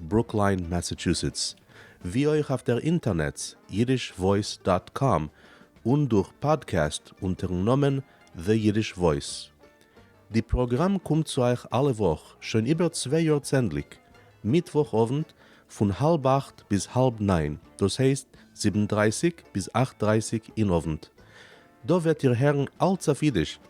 ברוקליין מעסעטשוסעטס, ווי אויך אויף דער אינטערנעץ יידיש וואויס דאט קאם און דורך פאדקעסט אונטערן נאמען The Yiddish Voice. די פראגראם קומט צו אייך אלע וואך שוין איבער צוויי יאר צענדליג מיטוואך אוונט פון האלב אכט ביז האלב ניין דאס הייסט זיבן דרייסיג ביז אכט דרייסיג אין אוונט. דא וועט איר הערן אלץ אויף יידיש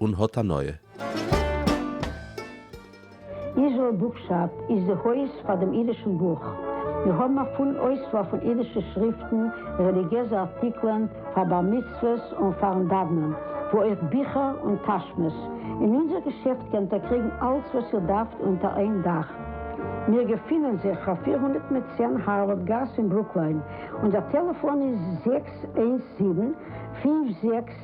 און האט הנאה. איזרעל בוקשאפ איז די הויז פאר דעם אידישן בוך. מיר האבן א פולן אויסוואל פון אידישע שריפטן, רעליגיעזע ארטיקלען פאר בר מצוות און פאר'ן דאוונען, ווי אויך ביכער און טאשמעס. אין אונזער געשעפט קענט איר קריגן אלץ וואס איר דארפט אונטער איין דאך. מיר געפינען זיך אויף פֿיר הונדערט מיט צען הארווארד גאס אין ברוקליין, אונזער טעלעפאן איז זעקס איינס זיבן, פֿינף זעקס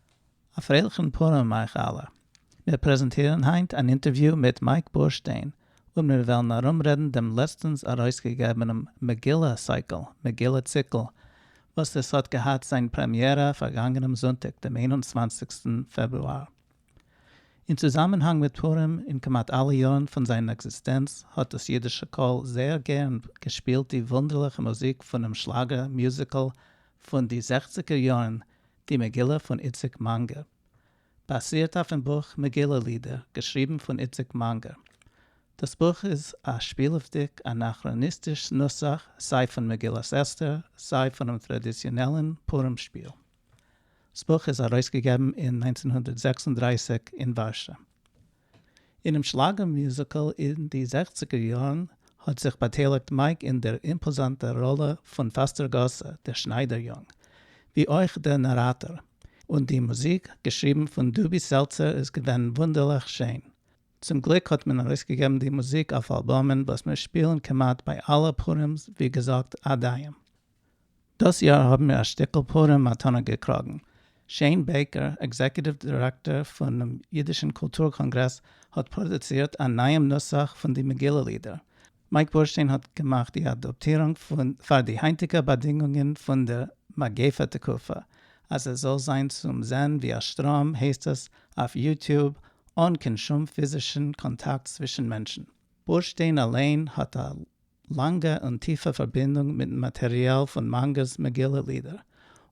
א פרייליכן פורים אייך אלע. מיר פרעזענטירן היינט אן אינטערוויו מיט מייק בורשטיין, און מיר וועלן ארומרעדן דעם לעצטנס ארויסגעגעבענעם מגילה סייקל, מגילה ציקל, וואס עס האט געהאט זיין פרעמיערע פארגאנגענעם זונטאג דעם איין און צוואנציגסטן פעברואר. אין צוזאמענהאנג מיט פורים און כמעט אלע יארן פון זיין עקזיסטענץ האט דאס אידישע קול זייער גערן געשפילט די וואונדערליכע מוזיק פונעם שלאגער מיוזיקל פון די זעכציגער יארן די מגילה פון איציק מאנגער באזירט אויפן בוך מגילה לידער געשריבן פון איציק מאנגער. דאס בוך איז א שפילעוודיג אנאכראניסטיש נוסח סיי פון מגילת אסתר סיי פונעם טראדיציאנעלן פורים שפיל. סבוך איז ארויסגעגעבן אין נײַנצן הונדערט זעקס און דרײַסיק אין ווארשע. אינעם שלאגער מיוזיקל אין די זעכציגער יארן האט זיך באטייליגט מייק אין דער אימפאזאנטער ראלע פון פאסטער גאסע, דער שניידער יונג, ווי אויך דער נאראטאר, און די מוזיק, געשריבן פון דובי סעלצער, איז געווען וואונדערליך שיין. צום גליק האט מען ארויסגעגעבן די מוזיק אויף אלבומען וואס מיר שפילן כמעט ביי אלע פורימ'ס, ווי געזאגט, עד היום. דאס יאר האבן מיר א שטיקל פורים מתנה געקראגן. שיין בעיקער, עקזעקוטיוו דירעקטאר פונעם אידישן קולטור קאנגרעס, האט פראדוצירט א נייעם נוסח פון די מגילה לידער. מייק בורשטיין האט געמאכט די אדאפטירונג פון פאר די היינטיגע באדינגונגען פון דער מגיפה תקופה, אז עס זאל זיין צום זען ווי א שטראם, הייסט עס אויף יוטיוב, אן קיין שום פיזישן קאנטאקט צווישן מענטשן. בורשטיין אליין האט א לאנגע און טיפע פארבינדונג מיטן מאטעריאל פון מאנגער'ס מגילה לידער,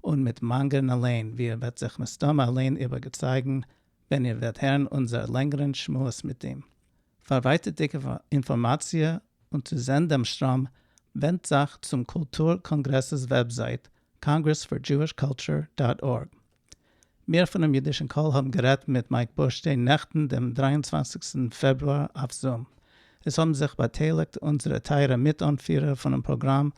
און מיט מאנגער'ן אליין, ווי איר וועט זיך מסתמא אליין איבערגעצייגן ווען איר וועט הערן אונזער לענגערן שמועס מיט אים. פאר ווייטערדיגע אינפארמאציע און צו זען דעם שטראם, ווענדט זיך צום קולטור קאנגרעס'ס וועבזייט, Congress for Jewish Culture דאט ארג. מיר פונעם אידישן קול האבן גערעדט מיט מייק בורשטיין נעכטן דעם דרײַ און צוואַנציק פעברואר אויף זום. עס האבן זיך באטייליגט אונזערע טייערע מיט אנפירער פונעם פראגראם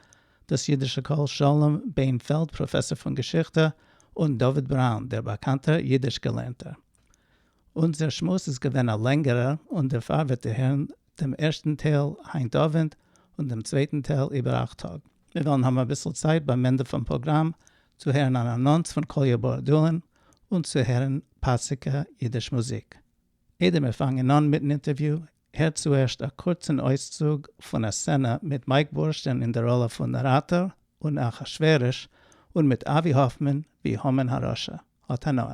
דאס אידישע קול שלום בענפעלד פראפעסאר פון געשיכטע און דוד בראון דער באקאנטער אידיש געלערנטער. אונזער שמועס איז געווען א לענגערער און דערפאר וועט איר הערן דעם ערשטן טייל היינט אווענט און דעם צווייטן טייל איבער אכט טאג. מיר וועלן האבן אביסל צייט ביים ענדע פון פראגראם צו הערן אן אנאנס פון קאליע בארדולין און צו הערן פאסיגע אידיש מוזיק. איידער מיר פאנגען אן מיטן אינטערוויו, הערט צוערשט א קורצן אויסצוג פון א סצענע מיט מייק בורשטיין אין די ראלע פון נאראטאר און אחשורוש, און מיט אבי האפמאן ווי המן הרשע. האט הנאה.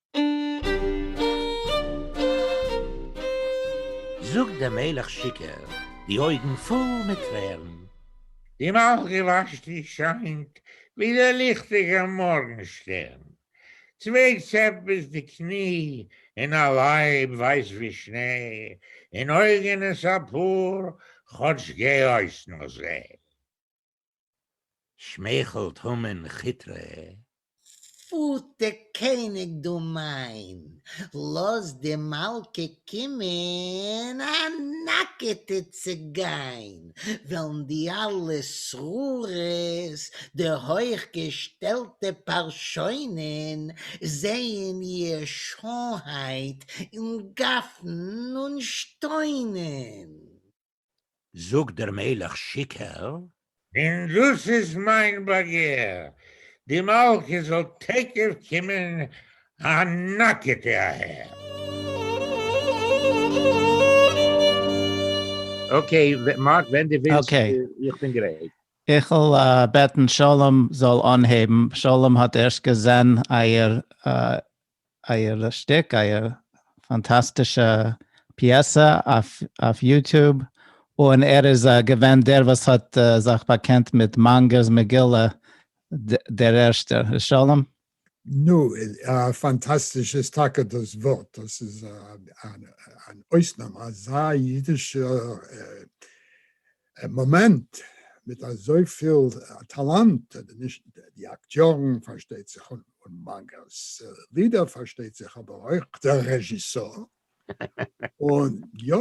זאָגט דער מלך שיכּור, די אױגן פֿול מיט טרערן. די מלכּה װאַשט און שײַנט, װי דער ליכטיקער מאָרגן-שטערן. צװײ צעפּ ביז די קני, און אַ לײב װײַס װי שנײ, און אױגן עס אַ פּאָר, כאָטש גײ-אױס נאָר זע. שמייכלט המן כיטרע. פוטע קעניג דו מיין, לאז די מלכה קומען א נאקעטע צו גיין, וועלן די אלע שררות, די הויך געשטעלטע פארשוינען, זעהן איר שעהנהייט און גאפן און שטוינען. זאגט דער מלך שיקער. און דאס איז מיין באגער, די מלכה זאל תיכף קומען א נאקעטע אהער. אקעי, מאך ווען דו ווילסט, איך בין גרייט. איך וויל בעטן שלום זאל אנהייבן, שלום האט ערשט געזען אייער אייער שטיק, אייער פאנטאסטישע פיעסע אויף יוטוב, און ער איז געווען דער וואס האט זיך באקענט מיט מאנגער'ס מגילה דער ערשטער, איז שלום? נו, פאנטאסטיש איז טאקע דאס ווארט, דאס איז אן אויסנאם, אזא אידישע מאמענט, מיט אזויפיל טאלאנט, אדער נישט די אקטיארן פארשטייט זיך און מאנגא'ס לידער פארשטייט זיך אבער אויך דער רעזשיסאר, און יא,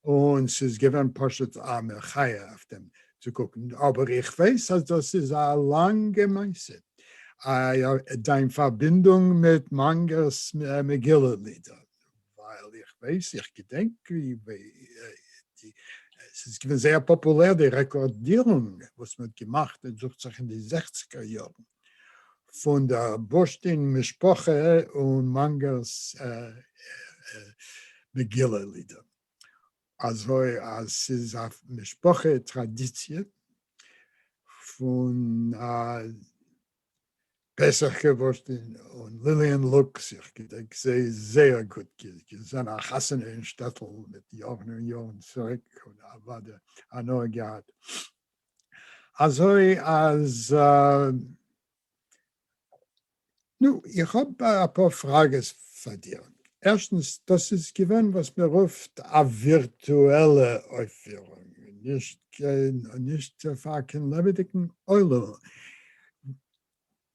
און ס'איז געווען פשוט א מחיה אויף דעם צו קוקן, אבער איך ווייס אז דאס איז א לאנגע מעשה, דיין פארבינדונג מיט מאנגא'ס מגילה לידער, ווייל איך ווייס איך געדענק ווי ס'איז געווען זייער פאפולער די רעקארדירונג וואס מ'האט געמאכט עס דוכט זיך אין די זעכציגער יארן פון דער בורשטין משפחה און מאנגער'ס מגילה לידער אזוי אז ס'איז א משפחה טראדיציע פון א פסח כבוד און ליליען לוקס, איך געדענק זיי זייער גוט, געזען א חתונה אין שטעטל מיט יארן און יארן צוריק און אוודאי הנאה געהאט. אזוי אז נו, איך האב אפאר פראגעס פאר דיר. ערשטנס, דאס איז געווען וואס מען רופט א ווירטועלע אויפפירונג, נישט פאר קיין לעבעדיגן עולם,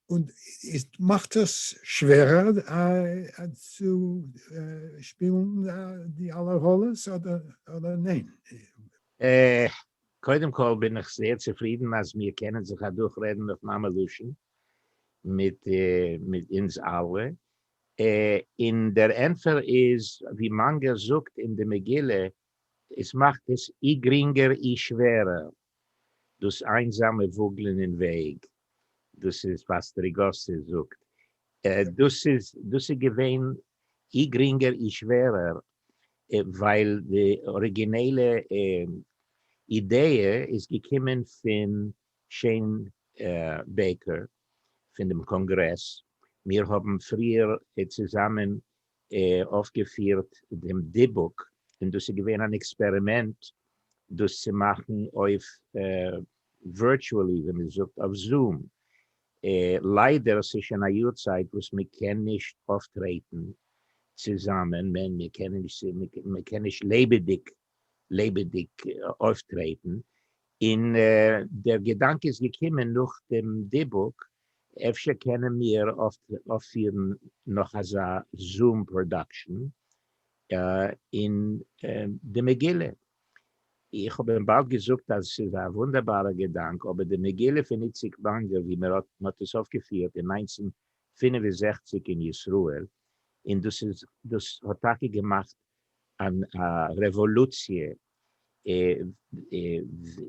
און עס מאכט עס שווערער צו שפילן די אלע ראלעס אדער ניין? קודם כל בין איך זייער צופרידן אז מיר קענען זיך אדורך רעדן אויף מאמע לשון מיט אונז אלע, און דער ענטפער איז ווי מונגער זאגט אין די מגילה, עס מאכט עס אי גרינגער אי שווערער, דאָס איינזאַמע וואָגלען אין וועג, דאָס איז וואָס סטריגאָסי זאָגט, דאָס איז, דאָס איז געווען אי גרינגער אי שווערער, ווייל די אָריגינעלע אידעע איז געקומען פֿון שעין בעקער, פֿון דעם קאָנגרעס. מיר האָבן פֿריִער צוזאַמען אויפגעפירט דעם דיבוק און דאס איז געווען אן עקספערימענט דאס צו מאכן אויף ווירטואלי ווי מען זאגט אויף זום, ליידער ס'איז שוין א יאר צייט וואס מען קען נישט אויפטרעטן צוזאמען, מען קען נישט לעבעדיג לעבעדיג אויפטרעטן, און דער געדאנק איז געקומען נאך דעם דיבוק, אפשר קענען מיר אויפפירן נאך אזא זום פראדאקשן אין די מגילה. איך האב אים באלד געזאגט אז ס'איז א וואונדערבארער געדאנק, אבער די מגילה פון איציק וואנגעל ווי מען האט עס אויפגעפירט אין נײַנצן פֿינף און זעכציק אין ישראל, און דאס האט טאקע געמאכט אן א רעוואלוציע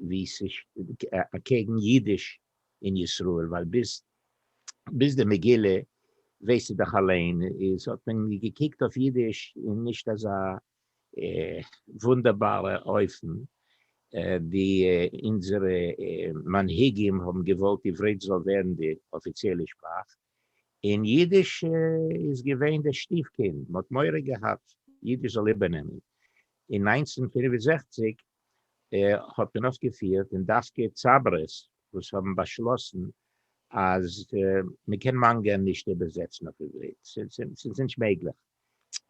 ווי אקעגן אידיש אין ישראל ווייל ביז ביז די מגילה ווייסטו דאך אליין איז האט מען געקוקט אויף אידיש אין נישט אזא וואונדערבארע אופן די אונזערע מנהיגים האבן געוואלט עברית זאל ווערן די אפיציעלע שפראך אין יידיש איז געווען דער שטיף קינד, מ'האט מורא געהאט יידיש זאל איבערנעמען, אין נײַנצן פֿינף און זעכציק האט מען אויפגעפירט און דווקא צברה'ס וואס האבן באשלאסן אז מ'קען מאנגא נישט איבערזעצן אויף עברית, ס'איז נישט מעגליך.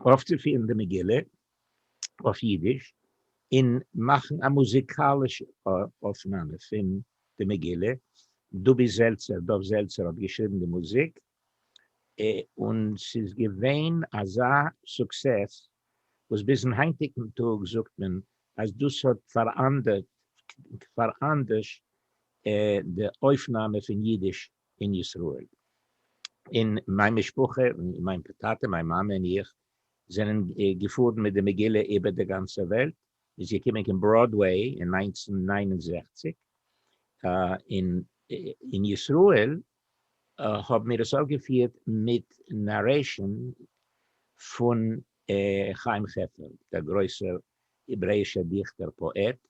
אויפצופירן די מגילה אויף אידיש און מאכן א מוזיקאלישע אויפנאמע פון די מגילה, דובי זעלצער, דוב זעלצער, האט געשריבן די מוזיק, און ס'איז געווען אזא סוקסעס וואס ביזן היינטיגן טאג זאגט מען אז דאס האט פאראנדערט, פאראנדערשט, די אויפנאמע פון אידיש אין ישראל. און מיין משפחה, מיין טאטע, מיין מאמע און איך, זענען געפארן מיט די מגילה איבער די גאנצע וועלט, איז געקומען קיין בראדוועי אין נײַנצן נײַן און זעכציק, און אין ישראל האבן מיר עס אויפגעפירט מיט נארעישאן פון חיים חפר, דער גרויסער העברעאישער דיכטער פאעט,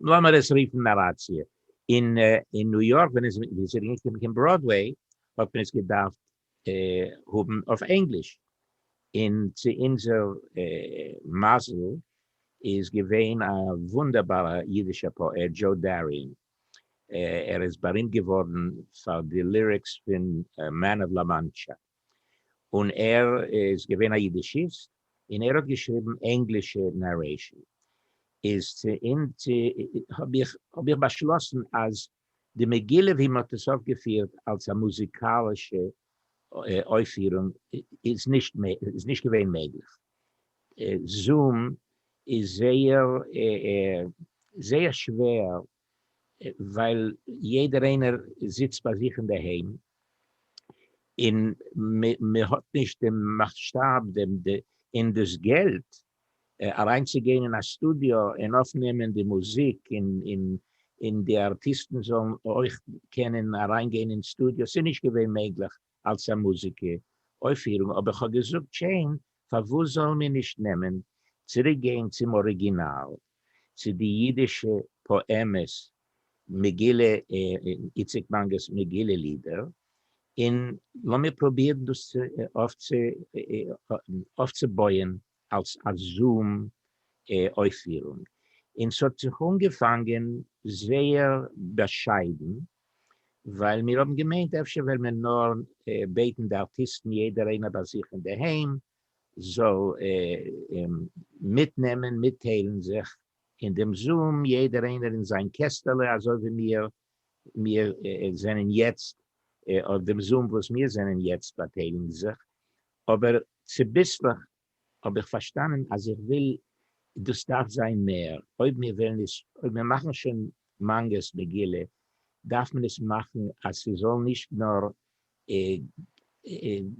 לאמיר עס רופן נאראציע. אין ניו יארק ווען עס איז אריינגעקומען קיין בראדוועי האט מען עס געדארפט האבן אויף ענגליש, און צו אונזער מזל איז געווען א וואונדערבארע אידישע פאעט דזשאו דאריען, ער איז בארימט געווארן פאר די ליריקס פון מען אוו לאמאנטשא. און ער איז געווען א יידישיסט און ער האט געשריבן ענגלישע נערעישן איז צו און צו האב איך האב איך באשלאסן אז די מגילה ווי מען האט עס אויפגעפירט אלס א מוזיקאלישע אויפפירונג איז נישט איז נישט געווען מעגליך זום איז זייער זייער שווער ווייל יעדער איינער זיצט ביי זיך אינדערהיים און מען האט נישט דעם מאסשטאב און דאס געלט אריינצוגיין אין א סטודיאו און אויפנעמען די מוזיק און די ארטיסטן זאלן אויך קענען אריינגיין אין סטודיאו, ס'איז נישט געווען מעגליך אלס א מוזיקע אויפירונג אבער כ'האב געזאגט שיין פארוואס זאלן מיר נישט נעמען צוריק גיין צום אריגינאל צו די אידישע פאעמעס מגילה איציק מאנגער'ס מגילה לידער און לאמיר פרובירן דאס אויפצובויען אלס א זום אויפפירונג, און ס'האט זיך אנגעפאנגען זייער באשיידן, ווייל מיר האבן געמיינט אפשר וועל מען נאר בעטן די ארטיסטן יעדער איינער ביי זיך אינדערהיים זאל מיטנעמען מיטטיילן זיך אין דעם זום, יעדער איינער אין זיין קעסטעלע, אזוי ווי מיר מיר זענען יעצט אויף דעם זום וואס מיר זענען יעצט באטייליגן זיך, אבער צוביסלעך האב איך פארשטאנען אז איך וויל דאס דארף זיין מער, אויב מיר וועלן עס אויב מיר מאכן שוין מאנגערס מגילה דארף מען עס מאכן אז ס'זאל נישט נאר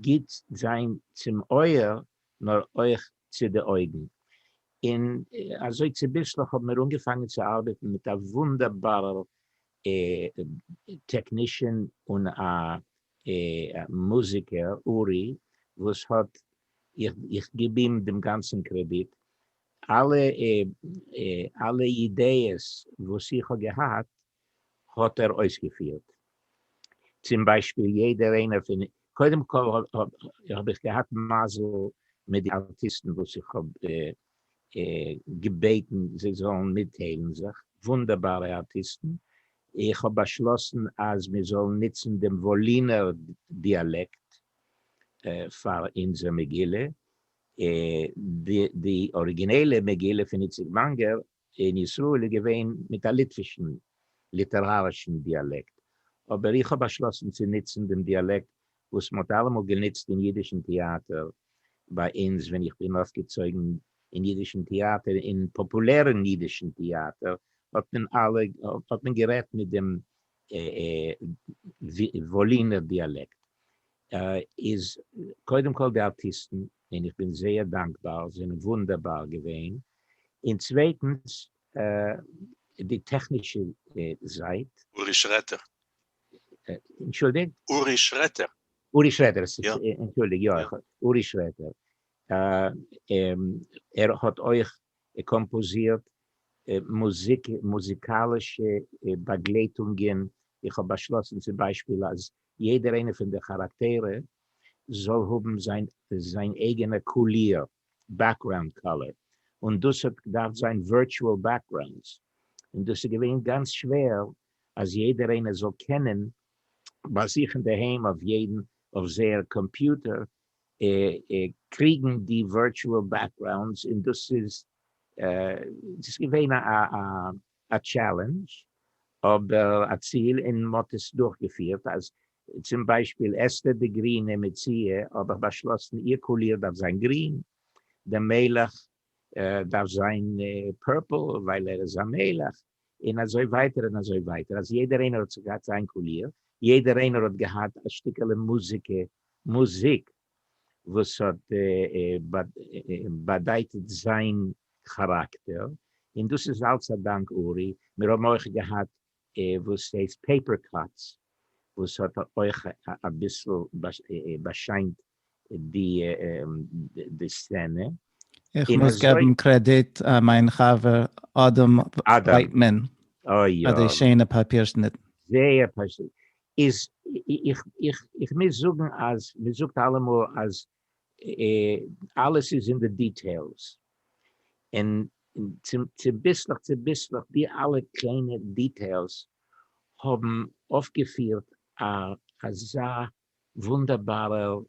גוט זיין צום אויער נאר אויך צו די אויגן, און אזוי צוביסלעך האבן מיר אנגעפאנגען צו ארבעטן מיט א וואונדערבארער טעקנישאן און א מוזיקער, אורי, וואס האט, איך גיב אים דעם גאנצן קרעדיט, אלע אידעעס וואס איך האב געהאט האט ער אויסגעפירט צום ביישפיל יעדער איינער פון, קודם כל האב איך געהאט מזל מיט די ארטיסטן וואס איך האב געבעטן זיי זאלן מיטטיילן זיך, וואונדערבארע ארטיסטן, איך האב באשלאסן אז מיר זאלן נוצן דעם וואלינער דיאלעקט פאר אונזער מגילה, די אריגינעלע מגילה פון איציק וואנגער אין ישראל איז געווען מיט א ליטווישן ליטערארישן דיאלעקט, אבער איך האב באשלאסן צו נוצן דעם דיאלעקט וואס מ'האט אלעמאל גענוצט אין אידישן טעאטער ביי אונז ווען איך בין אויפגעצויגן אין אידישן טעאטער, אין פאפולערן אידישן טעאטער האט מען אלע האט מען גערעדט מיט דעם וואלינער דיאלעקט, איז קודם כל די ארטיסטן און איך בין זייער דאנקבאר זענען וואונדערבאר געווען, און צווייטנס די טעכנישע זייט. אורי שרעטער. אנטשולדיגט? אורי שרעטער. אורי שרעטער, אנטשולדיג, יא, אורי שרעטער, ער האט אויך קאמפאזירט מוזיק, מוזיקאלישע באגלייטונגען, איך האב באשלאסן צום ביישפיל אז יעדער איינע פון די כאראקטערע זאל האבן זיין זיין אייגענע קאליר, בעקראונד קאלער, און דאס האט געדארפט זיין ווירטואל בעקראונדס, און דאס איז געווען גאנץ שווער אז יעדער איינער זאל קענען ביי זיך אינדערהיים אויף יעדן אויף זייער קאמפיוטער קריגן די ווירטואל בעקראונדס, און דאס איז דאס איז געווען א א טשעלענדזש אבער א ציל און מ'האט עס דורכגעפירט אז צום ביישפיל אסתר די גרינע מציאה האב איך באשלאסן איר קאליר דארף זיין גרין, די מלך דארף זיין פורפל ווייל ער איז א מלך, און אזוי ווייטער און אזוי ווייטער אז יעדער איינער האט זיך געהאט זיין קאליר, יעדער איינער האט געהאט א שטיקעלע מוזיקה מוזיק. וואס האט באדייטעט זיין כאראקטער, און דאס איז אלס א דאנק אורי, מיר האבן אויך געהאט וואס הייסט פעיפער קאטס וואס האט אויך אביסל באשיינט די סצענע. איך מוז געבן קרעדיט א מיין חבר אדם ווייטמאן פאר די שיינע פאפיר שניטן. זייער פארשטענדליך. איז איך מוז זאגן אז מען זאגט אלעמאל אז אלעס איז אין די דיטעילס, און צוביסלעך צוביסלעך די אלע קליינע דיטעילס האבן אויפגעפירט א אזא וואונדערבארע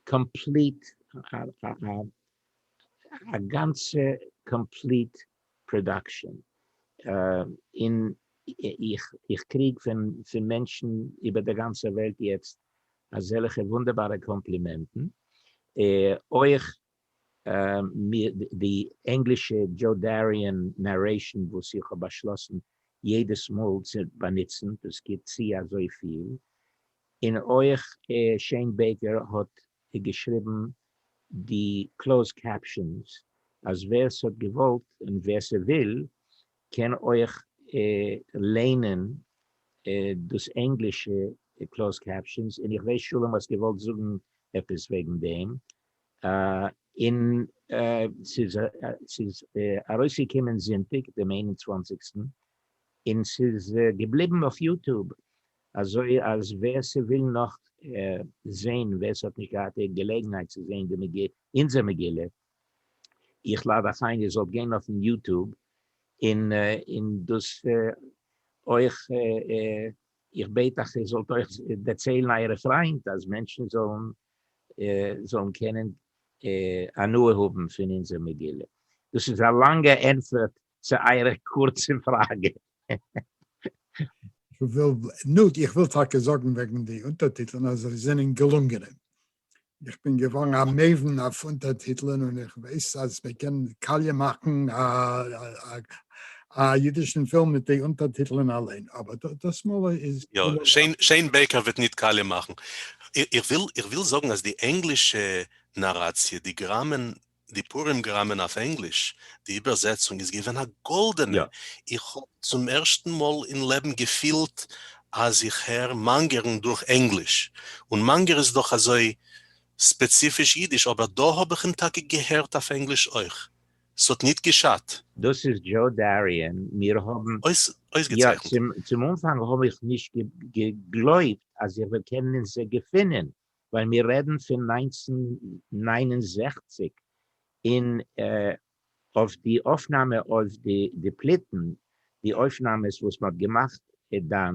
קאמפליט א גאנצע קאמפליט פראדאקשען און איך קריג פון מענטשן איבער די גאנצע וועלט יעצט אזעלכע וואונדערבארע קאמפלימענטן, אויך די ענגלישע דזשאו דאריען נארעישן וואס איך האב באשלאסן יעדעס מאל צו באנוצן, דאס גיבט צו אזויפיל, און אויך שעין בעיקער האט האט געשריבן, די קלאוזד קעפשאנס אז ווער ס'האט געוואלט און ווער ס'וויל קען אויך ליינען דאס ענגלישע קלאוזד קעפשאנס, און איך ווייס שלום האסט געוואלט זאגן עפעס וועגן דעם, און ס'איז ארויסגעקומען זונטאג דעם איין און צוואנציגסטן, און ס'איז געבליבן אויף יוטוב אזוי אז ווער ס'וויל נאך זעהן, ווער ס'האט נישט געהאט די געלעגנהייט צו זעהן די מגילה, אונזער מגילה, איך לאד אייך איין איר זאלט גיין אויפן יוטוב און דאס אויך, איך בעט אייך איר זאלט אויך דערציילן אייערע פריינט אז מענטשן זאלן קענען הנאה האבן פון אונזער מגילה. דאס איז א לאנגע ענטפער צו אייערע קורצע פראגע. נו, איך וויל טאקע זאגן וועגן די אונטערטיטלען אז זיי זענען געלונגענע. איך בין געווארן א מבין אויף אונטערטיטלען און איך ווייס אז מען קען קאליע מאכן א אידישן פילם מיט די אונטערטיטלען אליין, אבער דאס מאל איז. יא, שיין בעקער וועט ניט קאליע מאכן. איך וויל זאגן אז די ענגלישע נאראציע, די גראמען די פורים גראמען אויף ענגליש, די איבערזעצונג איז געווען א גאלדענע, יא. איך האב צום ערשטן מאל אין לעבן געפילט אז איך הער מאנגערן דורך ענגליש, און מאנגער איז דאך אזוי ספעציפיש אידיש, אבער דא האב איך אים טאקע געהערט אויף ענגליש אויך, ס'האט ניט געשאדט. דאס איז דזשאו דאריען, מיר האבן, יא, צום אנפאנג האב איך נישט געגלויבט אז איך וועל קענען אינז געפינען, ווען מיר רעדן פון נײַנצן נײַן און זעכציק און אויף די אויפנאמע אויף די פליטן, די אויפנאמעס וואס מען האט געמאכט דאן,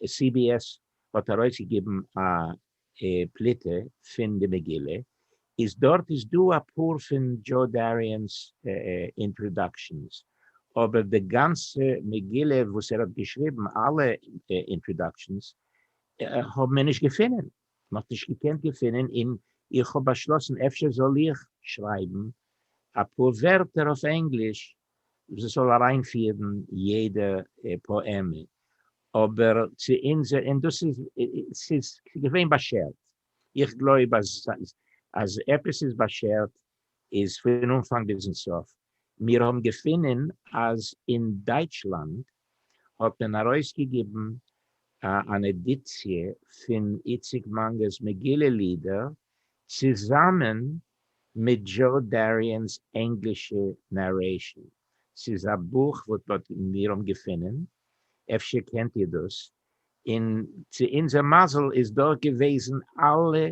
סי בי עס האט ארויסגעגעבן א פליטה פון די מגילה, איז דארט איז דא אפאר פון דזשאו דאריען'ס אינטראדאקשענס, אבער די גאנצע מגילה וואס ער האט געשריבן אלע אינטראדאקשענס האבן מיר נישט געפונען. מען האט נישט געקענט געפינען אין איך האב באשלאסן אפשר זאל איך שרייבן אפאר ווערטער אויף ענגליש וואס עס זאל אריינפירן יעדע פאעמע אבער צו אונזער און דאס איז ס'איז געווען באשערט איך גלויב אז אז עפעס איז באשערט איז פון אנפאנג ביזן סוף, מיר האבן געפונען אז אין דייטשלאנד האט מען ארויסגעגעבן אן עדיציע פון איציק מאנגער'ס מגילה לידער צוזאמען מיט דזשאו דאריען'ס ענגלישע נערעישן, ס'איז א בוך וואס מיר האבן געפונען, אפשר קענט איר דאס, און צו אונזער מזל איז דארט געוועזן אלע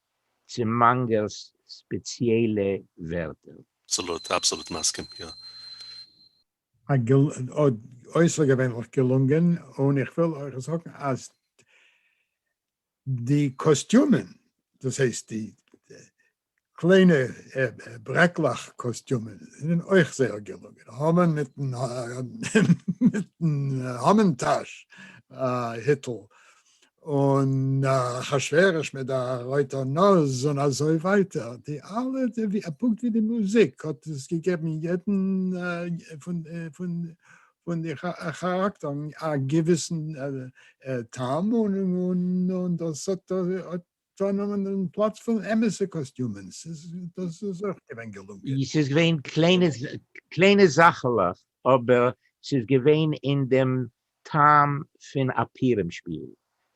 צו מאנגערס ספעציעלע ווערטער. אבסאלוט אבסאלוט מסכים יא. א אויסערגעווענליך געלונגען, און איך וויל אויך זאגן אז די קאסטיומען, דאס הייסט די קליינע ברעקלעך קאסטיומען, זענען אויך זייער געלונגען, המן מיטן המן טאש היטל, און אחשורוש מיט די רויטע נאז און אזוי ווייטער, די אלע פונקט ווי די מוזיק האט עס געגעבן יעדן פון די כאראקטערן א געוויסן טעם און דאס האט צונומען אין פלאץ פון אמת'ע קאסטיומען, ס'איז דאס איז אויך געווען געלונגען. ס'איז געווען קליינע קליינע זאכעלעך אבער ס'איז געווען אין דעם טעם פון א פירעם שפיל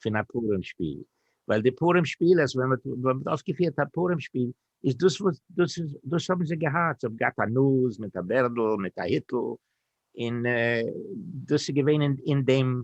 פון א פורים שפיל ווייל די פורים שפילערס ווען מ'האט ווען מ'האט אויפגעפירט א פורים שפיל איז דאס וואס דאס איז דאס האבן זיי געהאט זיי האבן געהאט א נאז מיט א בערדל מיט א היטל און דאס איז געווען אין דעם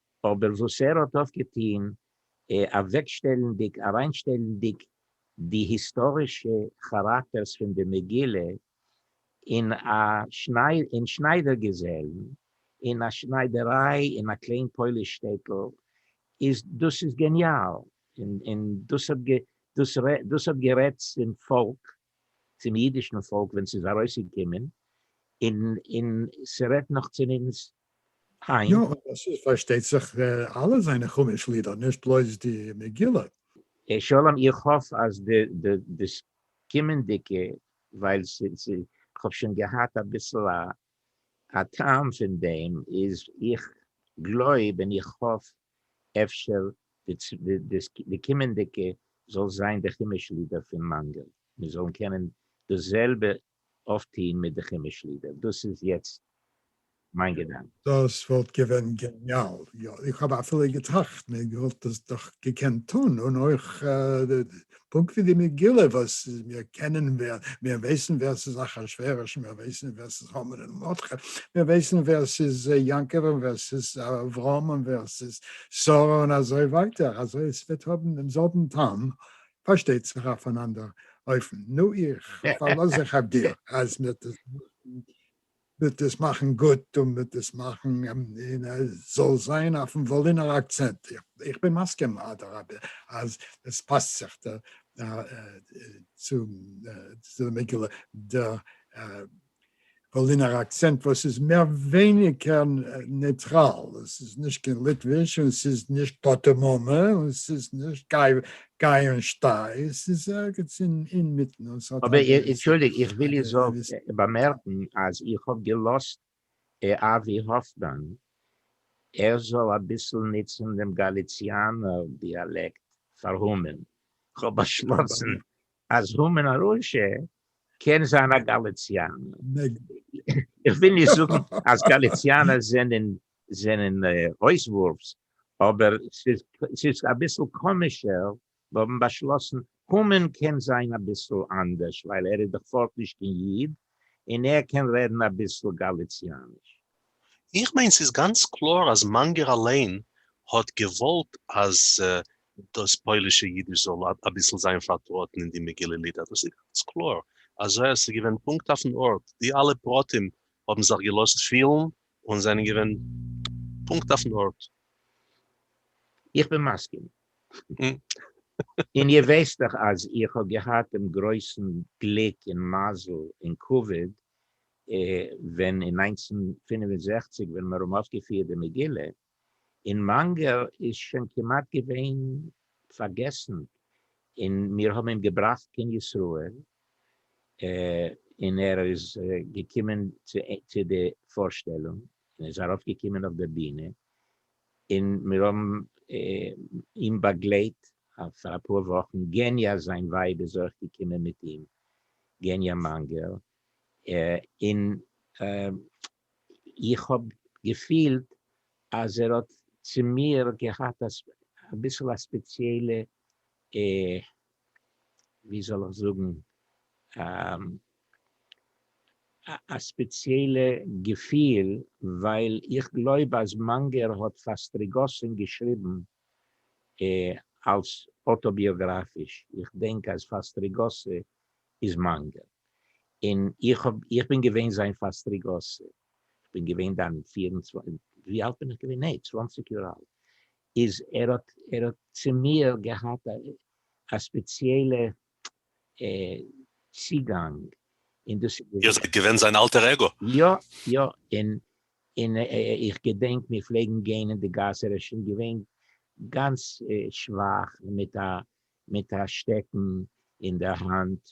אבער וואס ער האט אויף געטוהן אוועקשטעלענדיג אריינשטעלענדיג די היסטארישע כאראקטערס פון די מגילה אין א אין שניידער געזעלן אין א שניידעריי אין א קליין פויליש שטעטל איז דאס איז געניאל און דאס האט דאס האט גערעדט צום פאלק צום אידישן פאלק ווען ס'איז ארויסגעקומען, און און ס'רעדט נאך צו אונז היינט. יא, און עס איז פארשטייט זיך אלע זיינע חומש לידער, נישט בלויז די מגילה. שלום, איך האף אז די די דאס קומענדיגע, ווייל ס'איז, כ'האב שוין געהאט אביסל א א טעם פון דעם איז איך גלויב און איך האף אפשר די קומענדיגע זאל זיין די חומש לידער פון מאנגעל מיר זאלן קענען דאס זעלבע אויפטוהן מיט די חומש לידער דאס איז יעצט מיין געדאנק. דאס וואלט געווען געניאל, יא איך האב אפילו געטראכט מען וואלט עס דאך געקענט טון און אויך פונקט ווי די מגילה וואס מיר קענען ווער מיר ווייסן ווער ס'איז אחשורוש, מיר ווייסן ווער ס'איז המן און מרדכי, מיר ווייסן ווער ס'איז יעקב און ווער ס'איז אברהם און ווער ס'איז שרה און אזוי ווייטער, אזוי עס וועט האבן דעם זעלבן טעם, פארשטייט זיך אויף אן אנדער אופן. נו איך פארלאז זיך אויף דיר אז מיר וועט עס מאכן גוט און וועט עס מאכן און עס זאל זיין אויפן וואלינער אקצענט. איך בין מסכים אדרבה אז עס פאסט זיך צו די מגילה די וואלינער אקצענט וואס איז מער ווייניגער נייטראל, עס איז נישט קיין ליטוויש און עס איז נישט פאטעמאמע און עס איז נישט גיי און שטיי, עס איז ערגעץ אינמיטן און ס'האט א געוויסע. אנטשולדיגט, איך וויל איר זאלט באמערקן אז איך האב געלאזט אבי האפמאן ער זאל אביסל נוצן דעם גאליציאנער דיאלעקט פאר המן, כ'האב באשלאסן אז המן הרשע קען זיין א גאליציאנער. איך וויל נישט זאגן אז גאליציאנער זענען זענען אויסוואורפס, אבער ס'איז אביסל קאמישער האבן באשלאסן המן קען זיין אביסל אנדערש ווייל ער איז דאך פארט נישט קיין איד און ער קען רעדן אביסל גאליציאניש. איך מיין ס'איז גאנץ קלאר אז מאנגער אליין האט געוואלט אז דאס פוילישע אידיש זאל אביסל זיין פארטראטן אין די מגילה לידער, דאס איז גאנץ קלאר, אזוי אז ס'איז געווען פונקט אויפן ארט, די אלע פרטים האבן זיך געלאזט פילן און זענען געווען פונקט אויפן ארט. איך בין מסכים. און איר ווייסט דאך אז איך האב געהאט דעם גרויסן גליק און מזל און כבוד ווען אין נײַנצן פֿינף און זעכציק ווען מיר האבן אויפגעפירט די מגילה, אין מאנגער איז שוין כמעט געווען פארגעסן אין מיר האבן אים געבראכט קיין ישראל אין ער איז געקומען צו די פארשטעלונג אין ער איז ארויף געקומען אויף די בינע אין מיר האבן אים באגלייט פאר אפאר וואכן געניא זיין ווייב איז אויך געקומען מיט אים געניא מאנגער אין איך האב געפילט אז ער האט צו מיר געהאט אביסל א ספעציעלע ווי זאל איך זאגן א ספעציעלע געפיל, ווייל איך גלויב אז מאנגער האט פאר סטריגאסין געשריבן אלס אוטאביאגראפיש, איך דענק אז פאר סטריגאסי איז מאנגער, און איך האב, איך בין געווען זיין פאסטריגאסער, איך בין געווען דאן פֿיר און צוואַנציק, ווי אלט בין איך געווען, נעה, צוואנציג יאר אלט, איז ער האט, ער האט צו מיר געהאט א ספעציעלע צוגאנג, און דאס איז. איר זייט געווען זיין אלטער עגא? יא, יא, און, און איך געדענק מיר פלעגן גיין אין די גאס, ער איז שוין געווען גאנץ שוואך, מיט א מיט א שטעקן אין די האנט,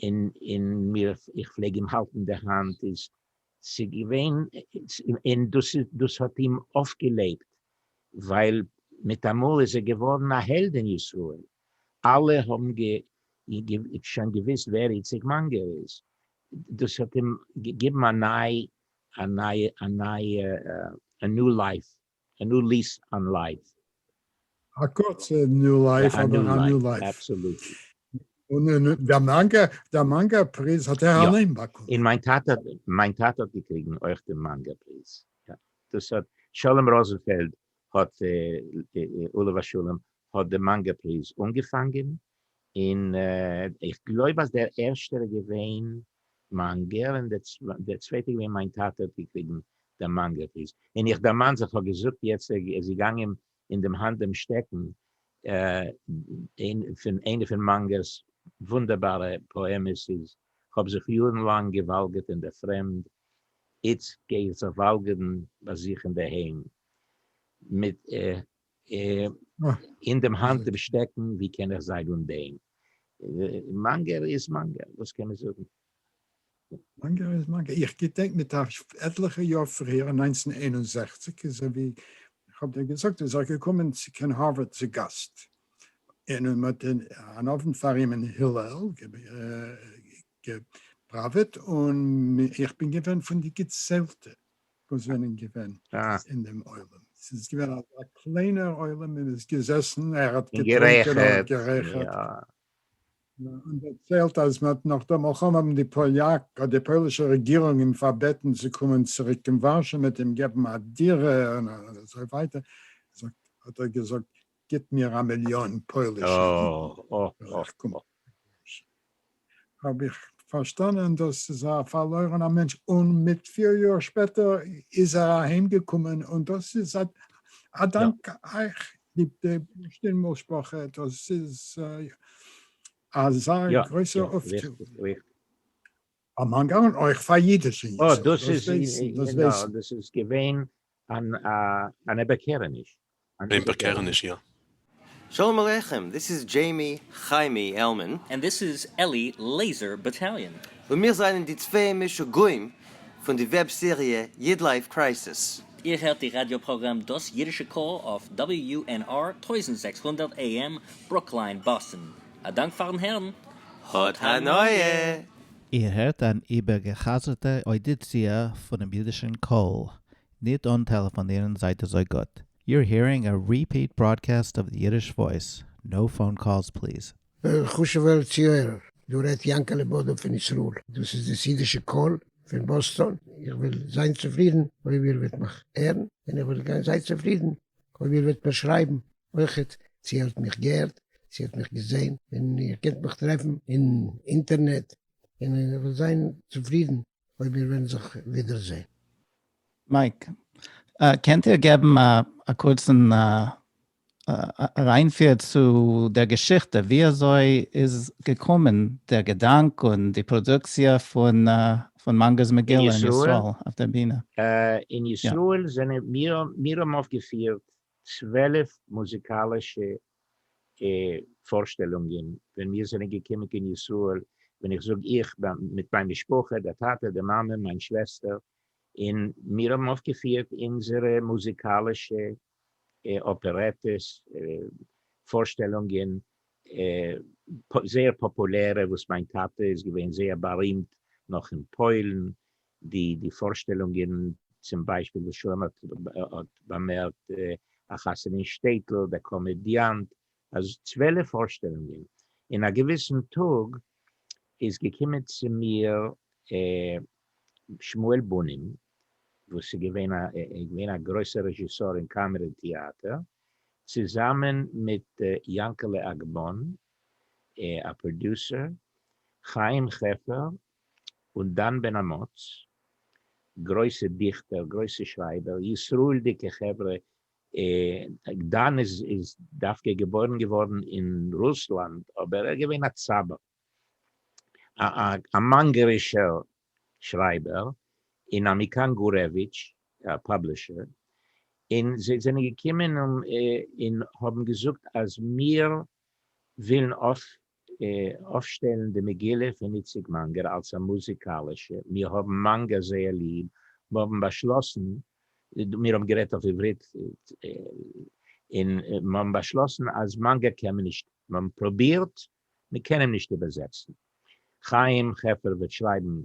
און מיר, איך פלעג אים האלטן די האנט, איז ס'געווען, און דאס האט אים אויפגעלעבט, ווייל מיטאמאל איז ער געווארן א העלד אין ישראל, אלע האבן שוין געוויסט ווער איציק מאנגער איז, דאס האט אים געגעבן א נייע, א נייע, א נייע, א ניו לייף. א ניו ליס אן לייף. א קורצע ניו לייף אבער א ניו לייף. און דער מאנגא דער מאנגא פריז האט ער אליין באקומען. און מיין טאטע מיין טאטע האט געקריגן אויך דעם מאנגא פריז. דאס האט שלום ראזענפעלד האט עליו השלום האט דעם מאנגא פריז אנגעפאנגען און איך גלויב אז דער ערשטער איז געווען מאנגער און דער צווייטער איז געווען מיין טאטע האט געקריגן דעם מאנגער פיס, און איך דערמאן זיך כ'האב געזאגט יעצט ער איז געגאנגען אים אין דעם האנט דעם שטעקן פון איינע פון מאנגער'ס וואונדערבארע פאעמעס איז כ'האב זיך יארן לאנג געוואלגערט אין דער פרעמד, איצט גיי איך זיך וואלגערן ביי זיך אינדערהיים מיט אין דעם האנט דעם שטעקן, ווי קען איך זיין אן דעם? מאנגער איז מאנגער, וואס קען מען זאגן? מאנגער איז מאנגער. איך געדענק מיט א עטליכע יאר פריער, אין נײַנצן איין און זעכציק, איז ער, ווי איך האב דיר געזאגט, איז ער געקומען צו קיין הארווארד צו גאסט, און מען האט אן אוונט פאר אים אין הילל געפראוועט, און איך בין געווען פון די געציילטע. וואס זענען געווען אין דעם עולם, ס'איז געווען א קליינער עולם, מען איז געזעסן, ער האט געטרונקען, און דערציילט אז מ'האט נאך דעם מלחמה האבן די פאליאק, אדער די פוילישע רעגירונג אים פארבעטן צו קומען צוריק קיין ווארשע, מ'האט אים געבן א דירה און אזוי ווייטער, האט ער געזאגט גיט מיר א מיליאן פוילישע אידן. האב איך פארשטאנען דאס איז א פארלוירענער מענטש, און מיט פיר יאר שפעטער איז ער אהיים געקומען, און דאס איז א דאנק אייך די בורשטין משפחה, דאס איז אזא גרויסער אויפטו. א מאנגאו און אויך פאר אידיש און יוס עס, דאס ווייסן, דאס ווייסן. דאס איז געווען אן איבערקערעניש. אן איבערקערעניש, יא. שלום עליכם, דיס איז דזשעימי חיימי עלמאן. ענד דיס איז עלי לעיזער באטאליאן. און מיר זענען די צוויי משוגעים פון די וועב סעריע אידלייף קרייסיס. איר הערט די ראדיא פראגראם דאס אידישע קול אויף WUNR טויזנט זעקס הונדערט AM ברוקלין, באסטן. א דאנק פארן הערן, האט הנאה! איר הערט אן איבערגעחזרטע אודיציע פונעם אידישן קול, ניט אן טעלעפאנירן זייט אזוי גוט. You're hearing a repeat broadcast of the Yiddish Voice, no phone calls please. וועלכע חשוב'ער צוהערער? דא רעדט יענקעלע בודא פון ישראל. דאס איז דאס אידישע קול פון באסטאן. איך וועל זיין צופרידן אויב איר וועט מיך הערן, און איך וועל גיין זיי צופרידן אויב איר וועט מיר שרייבן. אויכעט צו איר האט מיך געהערט, צו איר האט מיך געזעהן, און איר קענט מיך טרעפן אין אינטערנעט, און איך וועל זיין צופרידן אויב מיר וועלן זיך ווידער זעהן. מייק, קענט איר געבן א קורצן אריינפיר צו דער געשיכטע, ווי אזוי איז געקומען דער געדאנק און די פראדוקציע פון מאנגער'ס מגילה אין ישראל אויף דער בינע? אין ישראל זענען מיר, מיר האבן אויפגעפירט צוועלף מוזיקאלישע פארשטעלונגען ווען מיר זענען געקומען קיין ישראל, ווען איך זאג איך מיט מיין משפחה, דער טאטע, די מאמע, מיין שוועסטער, און מיר האבן אויפגעפירט אונזערע מוזיקאלישע אפערעטעס, פארשטעלונגען, זייער פאפולערע, וואס מיין טאטע איז געווען זייער בארימט נאך אין פוילן, די די פארשטעלונגען צום ביישפיל וואס שלום האט האט באמערקט א חתונה אין שטעטל דער קאמעדיאנט אז צוועלף פארשטעלונגען אין א געוויסן טאג איז געקומען צו מיר שמואל בונים וואס איז געווען א געווען א גרויסער רעזשיסאר אין קאמעדי טעאטער צוזאמען מיט יאנקעלע אגמון א פראדיוסער חיים חפר און דן בן אמוץ, גרויסע דיכטער, גרויסע שרייבער, ישראל'דיגע חברה, דן איז דווקא געבוירן געווארן אין רוסלאנד אבער ער איז געווען א צב א, א מאנגערישער שרייבער, און א מכאן גורעוויטש, א פאבלישער, און זיי זענען געקומען און האבן געזאגט אז מיר ווילן אויף. אויפשטעלן די מגילה פון איציק מאנגער אלס א מוזיקאלישע, מיר האבן מאנגער זייער ליב, מיר האבן באשלאסן, מיר האבן גערעדט אויף עברית, און מיר האבן באשלאסן אז מאנגער קען מען נישט, מיר האבן פרובירט, מען קען אים נישט איבערזעצן. חיים חפר וועט שרייבן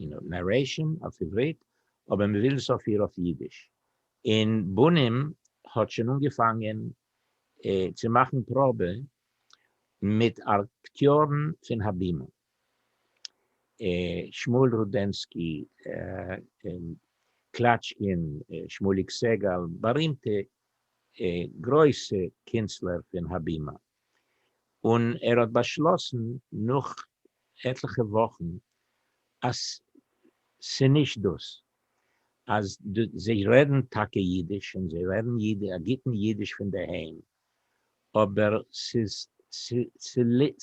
נערעישאן אויף עברית, אבער מיר ווילן עס אפיר אויף אידיש. און בונים האט שוין אנגעפאנגען צו מאכן פראבע מיט אקטיארן פון הבימה, שמואל רודנסקי, קלאטשקין, שמואליק סעגאל, בארימטע גרויסע קונצלער פון הבימה, און ער האט באשלאסן נאך עטליכע וואכן אז ס'נישט דאס, אז זיי רעדן טאקע אידיש און זיי רעדן א גוטן אידיש פון דערהיים, אבער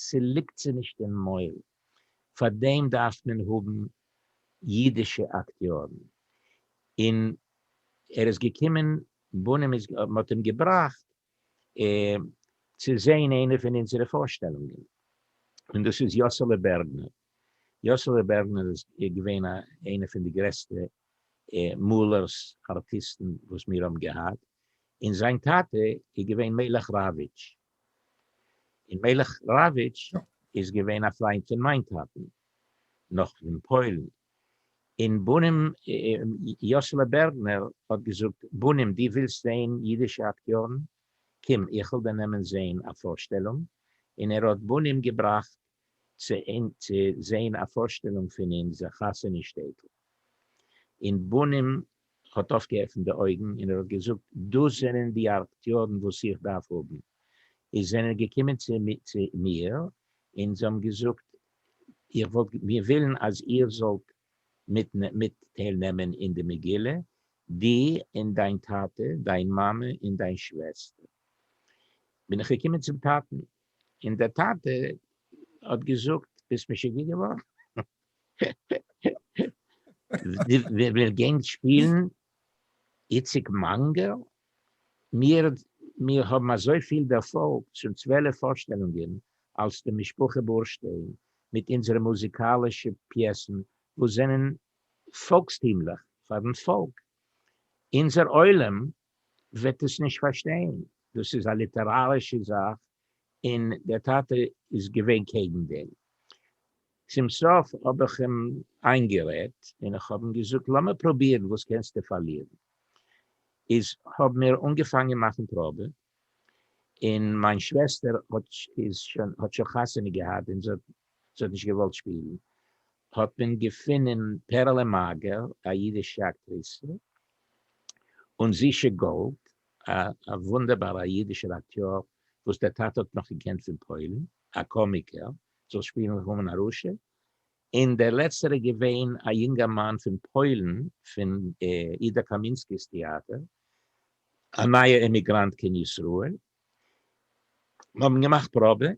ס'ליגט זיי נישט אין מויל, פאר דעם דארף מען האבן אידישע אקטיארן, און ער איז געקומען, בונים איז, מען האט אים געבראכט צו זעהן איינע פון אונזערע פארשטעלונגען, און דאס איז יאסעלע בערגמאן. יאָסעלע בערנער איז געווען איינער פֿון די גרעסטע מאָלערס, אַרטיסטן, וואָס מיר האָבן געהאַט, און זײַן טאַטע איז געווען מלך ראַוויטש. און מלך ראַוויטש איז געווען אַ פֿרײַנד פֿון מײַן טאַטן, נאָך פֿון פּוילן. און בנים, יאָסעלע בערנער האָט געזאָגט, בנים, דו ווילסט זען ייִדישע אַקטיאָרן? קום, איך וועל דיר נעמען זען אַ פֿאָרשטעלונג. און ער האָט בנים געבראַכט צו זעהן א פארשטעלונג פון אונזער חתונה שטעטל אין בנין האט אויפגעעפנט די אויגן און ער האט געזאגט דאס זענען די אקטיארן וואס איך דארף האבן, איז זענען געקומען צו מיר און זיי האבן געזאגט איך וואלט מיר ווילן אז איר זאלט מיט טייל נעמען אין די מגילה דו און דיין טאטע דיין מאמע און דיין שוועסטער, בין איך געקומען צום טאטן און דער טאטע האט געזאגט, ביסט משוגע געווארן? ווער גענג שפילן איציק מאנגעל? מיר האבן אזויפיל דערפאלג, שוין צוועלף פארשטעלונגען אלס די משפחה בורשטיין מיט אונזערע מוזיקאלישע פיעסן וואס זענען פאלקסטימליך פארן פאלק. אונזער עולם וועט עס נישט פארשטיין, דאס איז א ליטערארישע זאך און דער טאטע איז געווען קעגן דעם. צום סוף האב איך אים איינגערעדט און איך האב אים געזאגט לאמיר פרובירן וואס קענסטו פארלירן. איז האב מיר אנגעפאנגען מאכן פראבע און מיין שוועסטער האט שוין חתונה געהאט און זי האט נישט געוואלט שפילן האט מען געפינען פערעלע מאגער, א אידישע אקטריסע, און זישע גאלד, א וואונדערבארע אידישער אקטיאר וואס דער טאטע האט נאך געקענט פון פוילן, א קאמיקער זאל שפילן המן הרשע, און דער לעצטער איז געווען א יונגערמאן פון פוילן פון אידא קאמינסקי'ס טעאטער, א נייע אימיגראנט קיין ישראל. מ'האבן געמאכט פראבע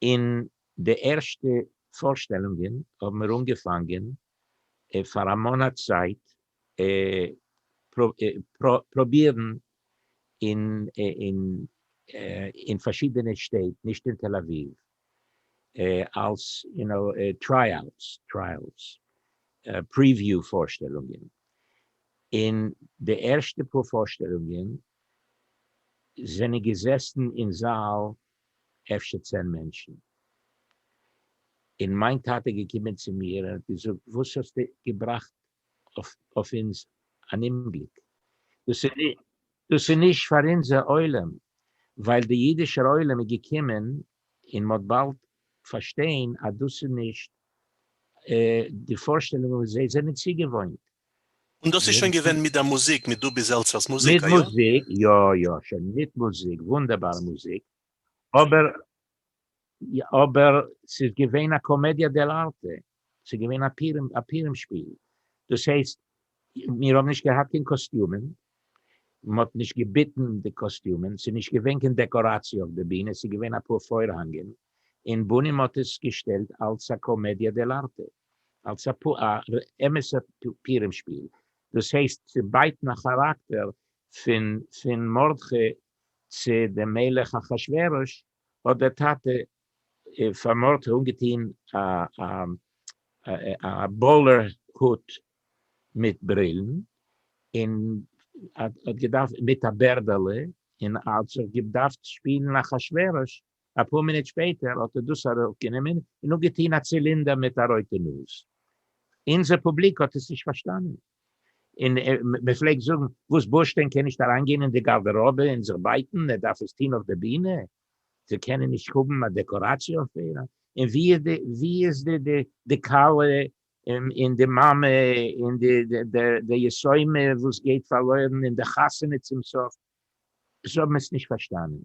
און די ערשטע פארשטעלונגען האבן מיר אנגעפאנגען פאר א מאנאט צייט פרובירן אין פארשידענע שטעט, נישט אין תל אביב, אלס יו נאו טרייאוטס, טרייעלס, פריוויו פארשטעלונגען, און די ערשטע פאר פארשטעלונגען זענען געזעסן אין זאל אפשר צען מענטשן. און מיין טאטע איז געקומען צו מיר און האט געזאגט, וואס האסטו געבראכט אויף אונז אן אומגליק? דאס איז נישט פאר אונזער עולם, ווייל דער אידישער עולם איז געקומען און מ'האט באלד פארשטיין אז דאס איז נישט די פארשטעלונג וואס זיי זענען צוגעוואוינט. און דאס איז שוין געווען מיט די מוזיק, מיט דובי זעלצער'ס מוזיק, איא? מיט מוזיק, יא יא, שוין מיט מוזיק, וואונדערבארע מוזיק, אבער, אבער ס'איז געווען א קאמעדיא דעל ארטע, ס'איז געווען א פורים, א פורים שפיל, דאס הייסט, מיר האבן נישט געהאט קיין קאסטיומען, מ'האט נישט געביטן די קאסטיומען, ס'איז נישט געווען קיין דעקאראציע אויף די בינע, ס'איז געווען אפאר פוירהאנגען, און בונים האט עס געשטעלט אלס א קאמעדיא דעל ארטע. אלס א אמת'ע פורים שפיל, דאס הייסט צו בייטן א כאראקטער פון מרדכי צו דעם מלך אחשורוש, האט דער טאטע פאר מרדכי אנגעטון א באולער הוט מיט ברילן, און מיט א בערדעלע, און האט זיך געדארפט שפילן אחשורוש אפאר מינוט שפעטער האט ער דאס אראפגענומען און אפגעטוהן א צילינדער מיט א רויטע נאז. אונזער פובליק האט עס נישט פארשטאנען און מען פלעגט זאגן, וואס בורשטיין קען נישט אריינגיין אין די גארדעראבע און זיך בייטן, ער דארף עס טוהן אויף די בינע, זיי קענען נישט האבן א דעקאראציע אויף איר, און ווי איז די כלה און די מאמע און די יסומה וואס גייט פארלוירן און די חתונה צום סוף, זיי האבן עס נישט פארשטאנען,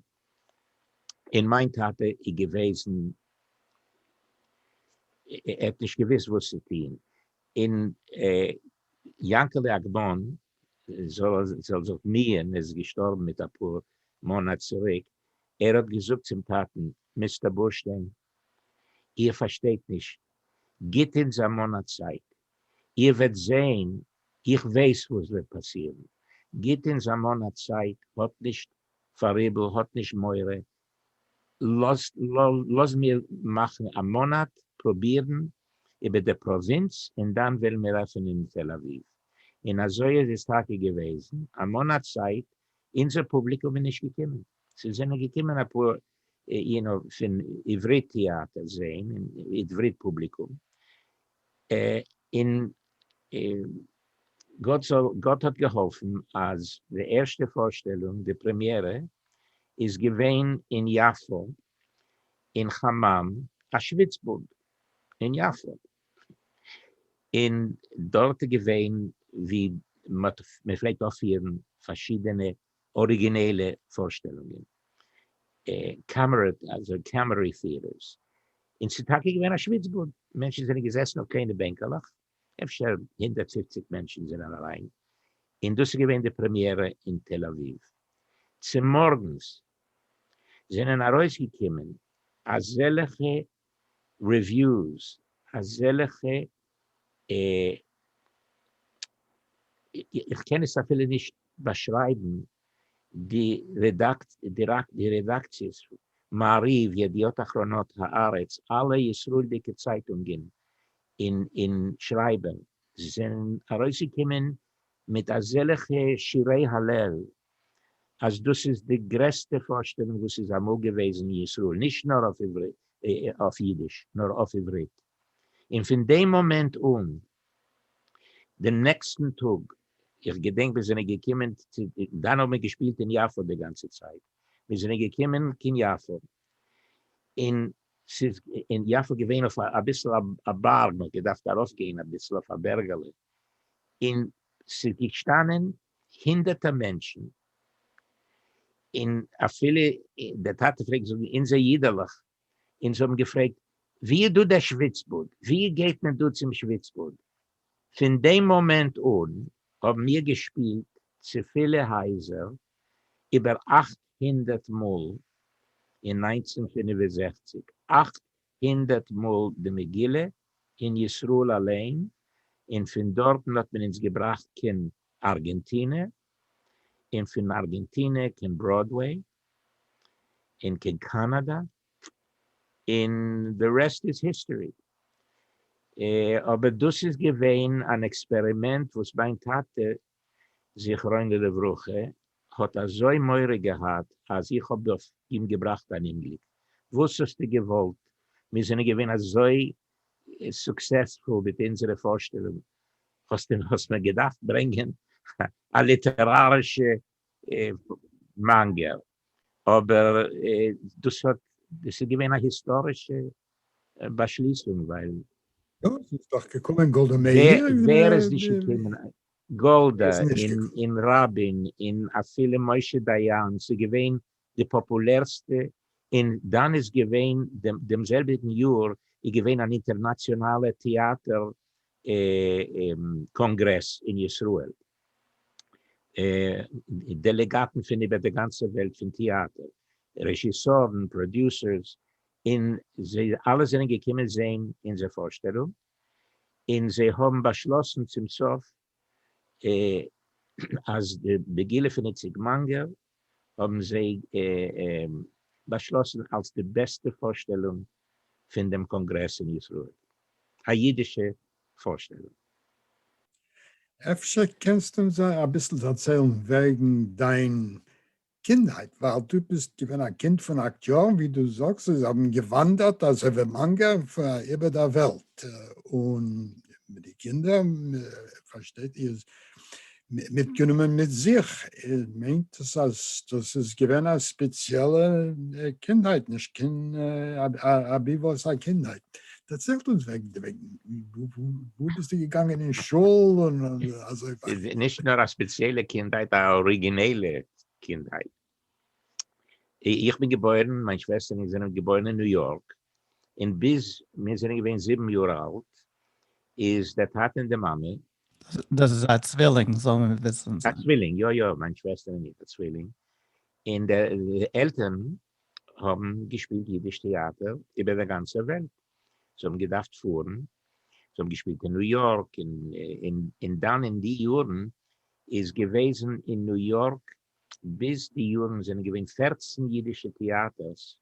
און מיין טאטע איז געוועזן, ער האט נישט געוואוסט וואס צו טון, און יענקעלע אגבון זל זיך מי ם איז געשטארבן מיט אפאר מאנאט צוריק, ער האט געזאגט צום טאטן, מיסטער בורשטיין, איר פארשטייט נישט, גיט אונז א מאנאט צייט, איר וועט זעהן, איך ווייס וואס וועט פאסירן, גיט אונז א מאן א צייט, האט נישט פאראיבל, האט נישט מורא, לאז מיר מאכן א מאנאט פרובירן איבער די פראווינץ און דאן וועלן מיר עפענען אין תל אביב. און אזוי איז עס טאקע געוועזן, א מאנאט צייט, אונזער פובליקום איז נישט געקומען, ס'זענען געקומען אפאר יו נאו פון עברית טעאטער זעהן, און עברית פובליקום, און גאט זאל, גאט האט געהאלפן אז די ערשטע פארשטעלונג, די פרעמיערע, איז געווען אין יפו, אין חממ, א שוויצבאד אין יפו, און דארט איז געווען ווי מ'פלעגט אויפפירן פארשידענע אריגינעלע פארשטעלונגען, קאמערי פיערערס, און ס'איז טאקע געווען א שוויץ באד, מענטשן זענען געזעסן אויף קליינע בענקעלעך, אפשר הונדערט פֿופֿציק מענטשן זענען אריין, און דאס איז געווען די פרעמיערע אין תל אביב. צומארגנס זענען ארויסגעקומען אזעלכע רעוויוס, אזעלעכע אה איך קען עס אפילו נישט באשרייבן, די רעדאקציעס מעריב, ידיעות אחרונות, הארץ, אלע ישראלדיגע צייטונגען און שרייבער זענען ארויסגעקומען מיט אזעלעכע שירי הלל אז דאס איז די גרעסטע פארשטעלונג וואס איז אמאל געוועזן אין ישראל, נישט נאר אויף אידיש, נאר אויף עברית. און פון דעם מאמענט אן, דעם נעקסטן טאג, איך געדענק מיר זענען געקומען, דאן האבן מיר געשפילט אין יפו די גאנצע צייט, מיר זענען געקומען קיין יפו, און ס'איז אין יפו געווען אויף אביסל א בארג, מ'האט געדארפט ארויפגיין אביסל אויף א בערגעלע, און ס'איז געשטאנען הונדערטער מענטשן, און אפילו דער טאטע פלעגט זאגן אונזער אידעלעך, אונז האבן געפרעגט ווי איז דא דער שוויצבאד, ווי גייט מען דא צום שוויצבאד, פון דעם מאמענט אן האבן מיר געשפילט צו פילע הייזער איבער אַכט הונדערט מאל אין נײַנצן פֿינף און זעכציק, אַכט הונדערט מאל די מגילה אין ישראל אליין, און פון דארטן האט מען אונז געבראכט קיין ארגענטינע, און פון ארגענטינע קיין בראדוועי, און קיין קאנאדע, און די רעסט איז היסטארי. אבער דאס איז געווען אן עקספערימענט וואס מיין טאטע זכרונו לברכה, האט אזוי מורא געהאט אז איך האב דא אים געבראכט אן אומגליק, וואס האסטו געוואלט, מיר זענען געווען אזוי סוקסעספול מיט אונזערע פארשטעלונג, האסט מיר געדארפט ברענגען א ליטערארישע מאנגער? אבער דאס האט דאס איז געווען א היסטארישע באשליסונג ווייל. יא, עס איז דאך געקומען גאלדא מאיר און. ווער איז נישט געקומען? גאלדא און רבין און אפילו משה דיין, ס'איז געווען די פאפולערסטע, און דאן איז געווען דעם זעלביגן יאר איז געווען אן אינטערנאציאנאלע טעאטער קאנגרעס אין ישראל, דעלעגאטן פון איבער די גאנצע וועלט פון טעאטער רעזשיסארן פראדיוסערס און זיי אלע זענען געקומען זעהן אונזער פארשטעלונג און זיי האבן באשלאסן צום סוף אז די מגילה פון איציק מאנגער האבן זיי באשלאסן אלס די בעסטע פארשטעלונג פון דעם קאנגרעס אין ישראל, א אידישע פארשטעלונג. אפשר קענסטו אונז אביסל דערציילן וועגן דיין קינדהייט, ווייל דו ביסט געווען א קינד פון אַכט יאר, און ווי דו זאגסט זיי האבן געוואנדערט אזוי ווי מאנגער איבער דער וועלט, און מיט די קינדער פארשטייט איר איז מיטגענומען מיט זיך, מיינט עס אז דאס איז געווען א ספעציעלע קינדהייט, נישט קיין אביבות א קינדהייט. דערציילט אונז וועגן דעם, וואו ביסטו געגאנגען אין שול און אזוי ווייטער. נישט נאר א ספעציעלע קינדהייט, א אריגינעלע קינדהייט. איך בין געבוירן, מיין שוועסטער און איך זענען געבוירן אין ניו יארק, און ביז מיר זענען געווען זיבן יאר אלט איז דער טאטע און די מאמע. דאס איז א צווילינג זאל מען וויסן. א צווילינג, יא יא, מיין שוועסטער און איך א צווילינג, און די עלטערן האבן געשפילט אידיש טעאטער איבער דער גאנצער וועלט, זיי האבן געדארפט פארן, זיי האבן געשפילט אין ניו יארק, און דאן אין די יארן איז געוועזן אין ניו יארק ביז די יארן זענען געווען פֿערצן אידישע טעאטערס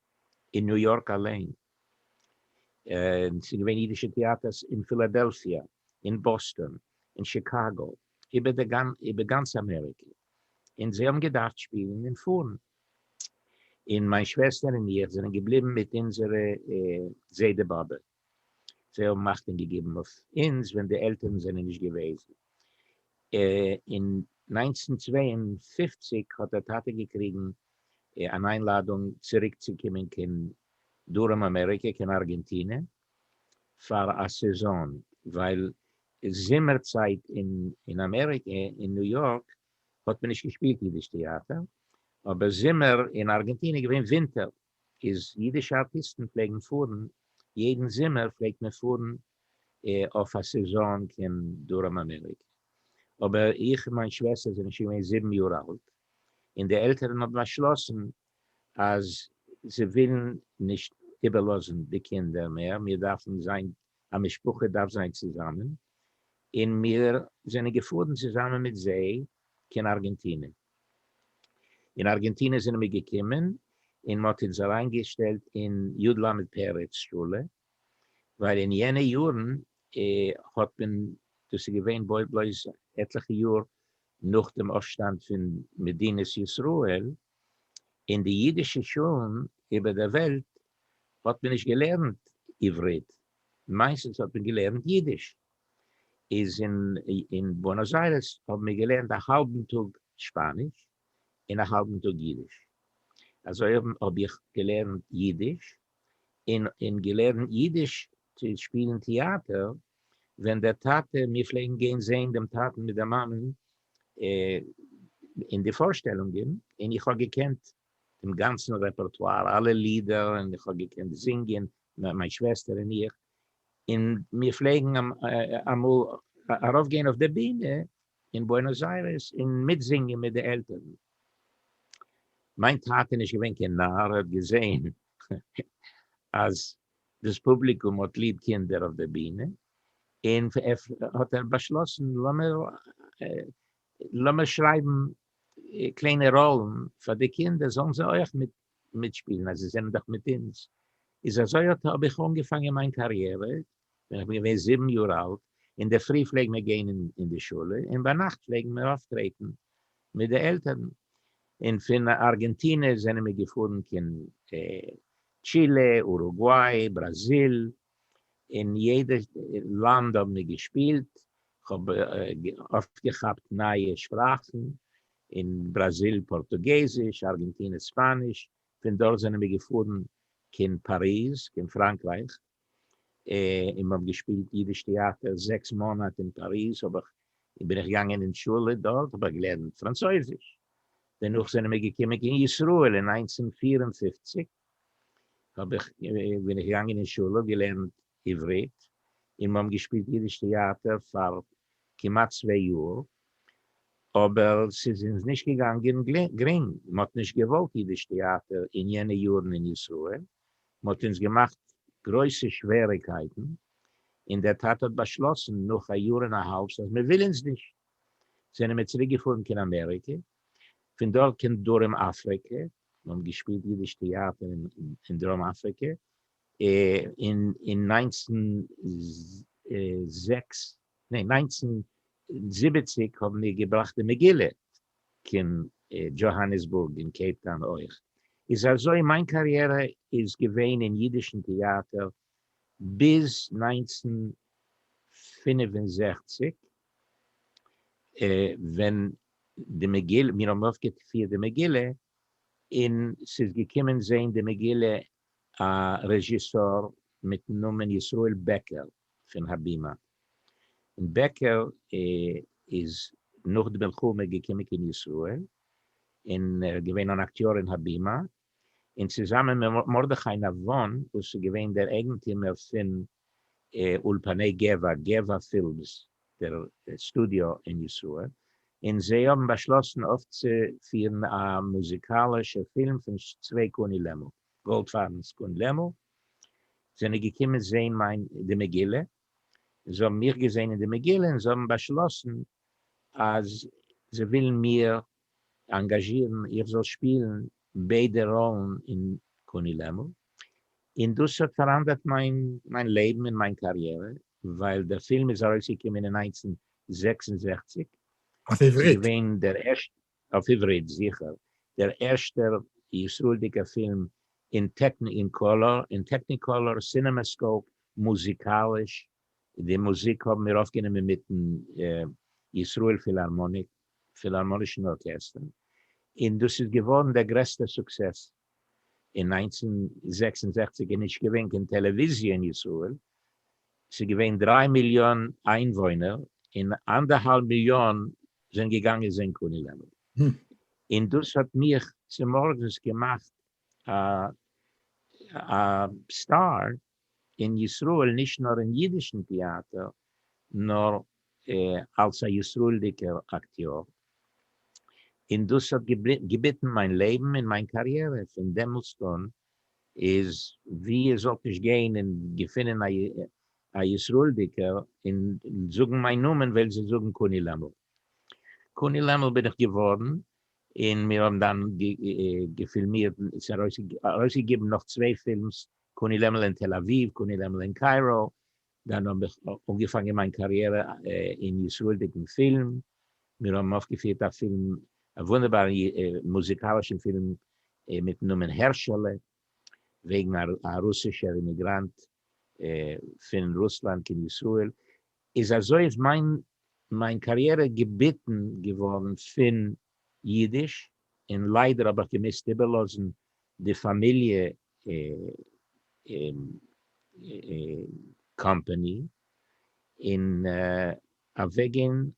אין ניו יארק אליין, און ס'איז געווען אידישע טעאטערס אין פילאדעלפיע, אין באסטאן, אין שיקאגא, איבער גאנץ אמעריקע, און זיי האבן געדארפט שפילן און פארן, און מיין שוועסטער און איך זענען געבליבן מיט אונזערע זיידע באבע. זיי האבן אכטונג געגעבן אויף אונז ווען די עלטערן זענען נישט געוועזן. אין נײַנצן צוויי און פֿופֿציק האט דער טאטע געקריגן אן איינלאדונג צוריק צו קומען קיין דרום אמעריקע, קיין ארגענטינע, פאר א סעזאן, ווייל זומער צייט אין אמעריקע, אין ניו יארק, האט מען נישט געשפילט אידיש טעאטער, אבער זומער אין ארגענטינע איז געווען ווינטער, איז אידישע ארטיסטן פלעגן פארן, יעדן זומער פלעגט מען פארן אויף א סעזאן קיין דרום אמעריק, אבער איך און מיין שוועסטער זענען שוין געווען זיבן יאר אלט, און די עלטערן האבן באשלאסן אז זיי ווילן נישט איבערלאזן די קינדער מער, מיר דארפן זיין, א משפחה דארף זיין צוזאמען, און מיר זענען געפארן צוזאמען מיט זיי קיין ארגענטינע. אין ארגענטינע זענען מיר געקומען און מ'האט אונז אריינגעשטעלט אין י ל פרץ שולע, ווייל אין יענע יארן האט מען, דאס איז געווען בלויז עטליכע יאר נאך דעם אויפשטאנד פון מדינת ישראל, אין די אידישע שולן איבער דער וועלט האט מען נישט געלערנט עברית, מיינסטנס האט מען געלערנט אידיש. איז אין בוענאס איירעס האבן מיר געלערנט א האלבן טאג שפאניש און א האלבן טאג אידיש, אזוי האבן האב איך געלערנט אידיש, און און געלערנט אידיש צו שפילן טיאטער, ווען דער טאטע, מיר פלעגן גיין זעהן דעם טאטן מיט דער מאמען אין די פארשטעלונגען, און איך האב געקענט דעם גאנצן רעפערטואר, אלע לידער, און איך האב געקענט זינגען, מיין שוועסטער און איך, און מיר פלעגן אמאל ארויף גיין אויף די בינע אין בוענאס איירעס און מיט זינגען מיט די עלטערן. מיין טאטע נישט געווען קיין נאר האט געזעהן אז דאס פובליקום האט ליב קינדער אויף די בינע און האט ער באשלאסן לאמיר לאמיר שרייבן קליינע ראלן פאר די קינדער זאלן זיי אויך מיט מיטשפּילן, אַז זײ זענען דאָך מיט אונדז. איז אַזױ אָט האָב איך אָנגעפֿאַנגען מײַן קאַריערע, װען איך בין געװען זיבן יאָר אַלט. אין דער פֿרי פֿלעגן מיר גײן אין די שולע, און בײַ נאַכט פֿלעגן מיר אױפֿטרעטן מיט די עלטערן. און פֿון אַרגענטינע זענען מיר געפֿאָרן קיין טשילע, אורוגװאַי, בראַזיל, אין יעדע לאנד האבן מיר געשפילט, כ'האב אויפגעכאפט נייע שפראכן, אין בראזיל פארטוגעזיש, ארגענטינע ספאניש, פון דארט זענען מיר געפארן קיין פאריז, קיין פראנקרייך, און מ'האב געשפילט אידיש טעאטער, זעקס מאנאט אין פאריז האב איך בין איך געגאנגען אין שולע, דארט האב איך געלערנט פראנצויזיש, דערנאך זענען מיר געקומען קיין ישראל אין נײַנצן פֿיר און פֿופֿציק, האב איך בין איך געגאנגען אין שולע געלערנט עברית און מ'האבן געשפילט אידיש טעאטער פאר כמעט צוויי יאר אבער ס'איז אונז נישט געגאנגען גרינג מ'האט נישט געוואלט אידיש טעאטער אין יענע יארן אין ישראל מ'האט אונז געמאכט גרויסע שוועריקייטן און דער טאטע האט באשלאסן נאך א יאר און א האלבס אז מ'וויל אונז נישט זענען מיר צוריק געפארן קיין אמעריקע פון דארט קיין דרום אפריקע מען האט געשפילט אידיש טעאטער אין דרום אפריקע אין נײַנצן זעקס, ניין נײַנצן זיבעציק האבן מיר געבראכט די מגילה קיין דזשאהאניסבורג און קעיפטאון אויך, איז אזוי מיין קאריערע איז געווען אין אידישן טעאטער ביז נײַנצן פֿינף און זעכציק ווען די מגילה, מיר האבן אויפגעפירט די מגילה און ס'איז געקומען זען די מגילה א רעזשיסאר מיטן נאמען ישראל בעקער פון הבימה, און בעקער איז נאך די מלחמה געקומען קיין ישראל און ער איז געווען אן אקטיאר אין הבימה, און צוזאמען מיט מרדכי נבון וואס איז געווען דער אייגנטימער פון אולפני גבע, גבע פילמס, דער סטודיאו אין ישראל, און זיי האבן באשלאסן אויפצופירן א מוזיקאלישע פילם פון צוויי קני לעמל. גאלדפארבנס קני לעמל זענען געקומען זען מיין די מגילה, זיי האבן מיך געזען אין די מגילה און זיי האבן באשלאסן אז זיי ווילן מיר אנגאזשירן איך זאל שפילן ביידע ראלן אין קוני לעמל, און דאס האט פאראנדערט מיין לעבן און מיין קאריערע, ווייל דער פילם איז ארויסגעקומען אין נײַנצן זעקס און זעכציק, און ס'איז געווען דער ערשטער, אויף עברית זיכער, דער ערשטער ישראל'דיגער פילם אין טעקניקאלאר, סינעמעסקאופ, מוזיקאליש, די מוזיק האבן מיר אויפגענומען מיטן ישראל פילהארמאניק, פילהארמאנישן ארקעסטער, און דאס איז געווארן דער גרעסטער סוקסעס אין נײַנצן זעקס און זעכציק איז נישט געווען קיין טעלעוויזיע אין ישראל, ס'איז געווען דריי מיליאן איינוואוינער און אנדערהאלב מיליאן זענען געגאנגען זען קוני לעמל, און דאס האט מיך צומארגנס געמאכט א סטאר, אין ישראל נישט נאר אין אידישן טיאטער נאר אלס א ישראלדיקער אקטיאר און דאס האט געביטן מיין לעבן און מיין קאריערע פון דעמאלסט אן איז ווי איר זאלט נישט גיין און געפינען א ישראלדיקער און זאגן מיין נאמען וועלן זיי זאגן קוני לעמל קוני לעמל בין איך געווארן און מיר האבן דאן געפילמירט ס'איז ארויסגעגעבן נאך צוויי פילמס קונה לעמל אין תל אביב, קונה לעמל אין קיירא, דאן האב איך אנגעפאנגען מיין קאריערע אין ישראל'דיגן פילם, מיר האבן אויפגעפירט א פילם, א וואונדערבארן מוזיקאלישן פילם מיטן נאמען הערשעלע, וועגן א רוסישער אימיגראנט פון רוסלאנד קיין ישראל, איז אזוי איז מיין קאריערע געביטן געווארן פון אידיש, און ליידער האב איך געמוזט איבערלאזן די פאמיליע קאמפאני און אוועקגיין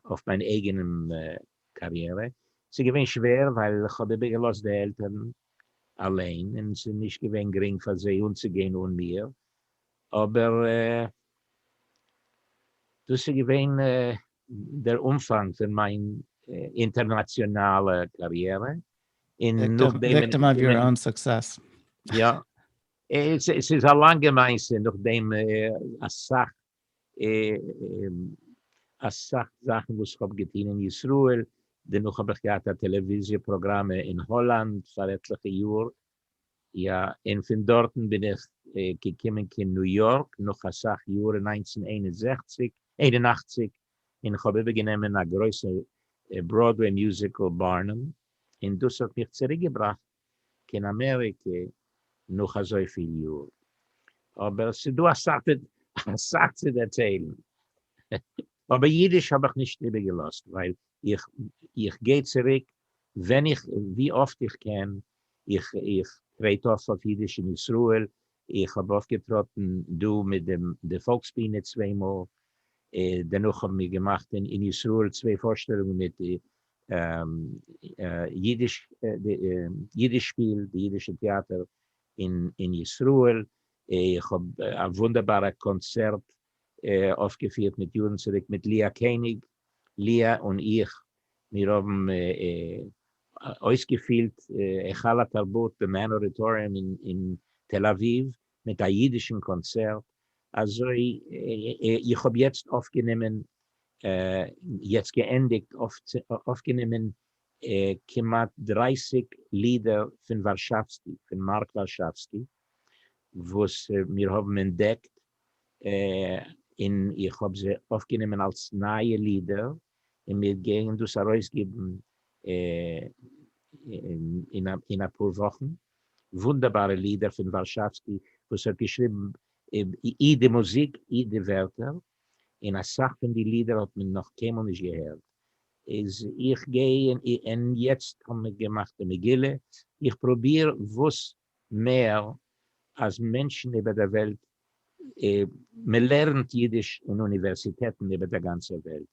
אויף מיין אייגענע קאריערע, ס'איז געווען שווער ווייל איך האב איבערגעלאזט די עלטערן אליין און ס'איז נישט געווען גרינג פאר זיי אנצוגיין אן מיר, אבער דאס איז געווען דער אנפאנג פון מיין אינטערנאציאנאלע קאריערע, און נאכדעם אין. וויקטים אוו יור אוין סוקסעס. יא. עס איז א לאנגע מעשה, נאכדעם אסאך אסאך זאכן וואס איך האב געטון אין ישראל, דערנאך האב איך געהאט א טעלעוויזיע פראגראם אין האלאנד פאר עטליכע יאר, יא, און פון דארטן בין איך געקומען קיין ניו יארק נאך אסאך יאר אין נײַנצן איין און זעכציק, איין און אַכציק, און כ'האב איבערגענומען א גרויסע בראדוועי מיוזיקל בארנעם, און דאס האט מיך צוריקגעבראכט קיין אמעריקע נאך אזויפיל יאר. אבער ס'איז דא אסאך צו דערציילן. אבער אידיש האב איך נישט איבערגעלאזט ווייל איך גיי צוריק ווי אפט איך קען איך איך טרעט אויף אויף אידיש אין ישראל, איך האב אויפגעטראטן דא מיט דעם די פאלקס בינה צוויי מאל, דערנאך האבן מיר געמאכט אין אין ישראל צוויי פארשטעלונגען מיט די אידיש די אידיש שפיל די אידישע טעאטער אין אין ישראל, איך האב א וואונדערבארע קאנצערט אויפגעפירט מיט יארן צוריק מיט לאה קעניג, לאה און איך, מיר האבן אויסגעפילט היכל התרבות במעין אודיטאריום אין תל אביב מיט א אידישן קאנצערט, אזוי איך האב יעצט אויפגענומען, יעצט געענדיגט אויפגענומען כמעט דרײַסיק לידער פון ווארשאווסקי, פון מארק ווארשאווסקי, וואס מיר האבן אנטדעקט און איך האב זיי אויפגענומען אלס נייע לידער, און מיר גייען דאס ארויסגעבן אין אפאר וואכן, וואונדערבארע לידער פון ווארשאווסקי וואס האט געשריבן אי די מוזיק אי די ווערטער, און אסאך פון די לידער האט מען נאך קיינמאל נישט געהערט, איז איך גיי און יעצט האבן מיר געמאכט די מגילה, איך פרוביר וואס מער אז מענטשן איבער דער וועלט, מען לערנט אידיש אין אוניווערסיטעטן איבער דער גאנצער וועלט,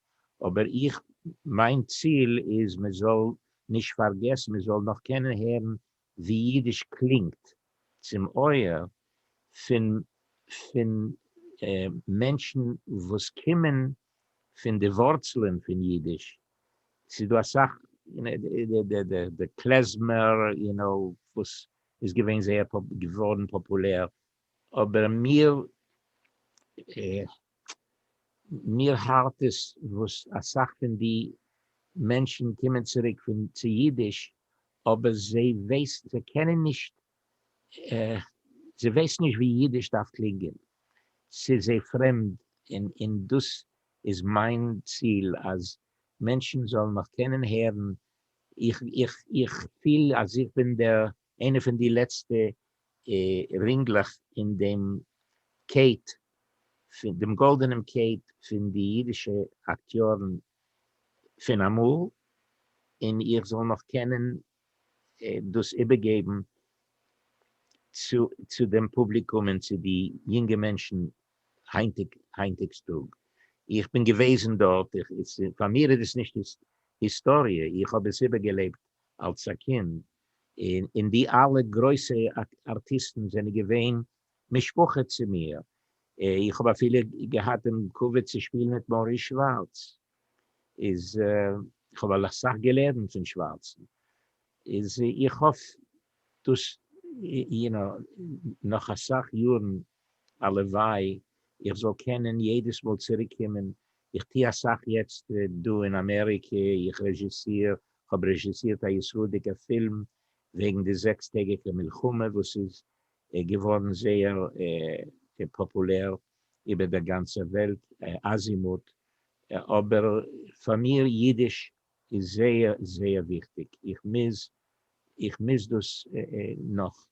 אבער איך, מיין ציל איז מען זאל נישט פארגעסן, מען זאל נאך קענען הערן ווי אידיש קלינגט צום אויער פון פון מענטשן וואס קומען פון די ווארצלען פון אידיש, ס'איז דא אסאך די קלעזמער יו נאו וואס איז געווען זייער געווארן פאפולער, אבער מיר מיר הארט עס וואס אסאך פון די מענטשן קומען צוריק צו אידיש אבער זיי ווייסט זיי קענען נישט זיי ווייסן נישט ווי אידיש דארף קלינגען ס'איז זיי פרעמד און דאס איז מיין ציל אז מענטשן זאלן מיך קענען הערן, איך פיל אז איך בין דער איינער פון די לעצטע רינגלעך אין דעם קעט, דעם גאלדענעם קעט פון די אידישע אקטיארן פון אמאל, און איך זאל נאך קענען דאס איבערגעבן צו דעם פובליקום און צו די יונגע מענטשן היינטיג היינטיגס טאג, איך בין געוועזן דארט, פאר מיר איז עס נישט היסטאריע, איך האב עס איבערגעלעבט אלס א קינד, און די אלע גרויסע ארטיסטן זענען געווען משפחה צו מיר, איך האב אפילו געהאט דעם כבוד צו שפילן מיט מאריס שווארץ, איז איך האב אסאך געלערנט פון שווארצן, איז איך האף דאס יענע נאך אסאך יארן הלוואי איך זאל קענען יעדעס מאל צוריק קומען, איך טוה אסאך יעצט דא אין אמעריקע, איך רעזשיסיר, כ'האב רעזשיסירט א ישראלדיגע פילם וועגן די זעקס טעגיגע מלחמה וואס איז געווארן זייער פאפולער איבער דער גאנצער וועלט, אזימוט, אבער פאר מיר אידיש איז זייער זייער וויכטיג, איך מוז איך מוז דאס נאך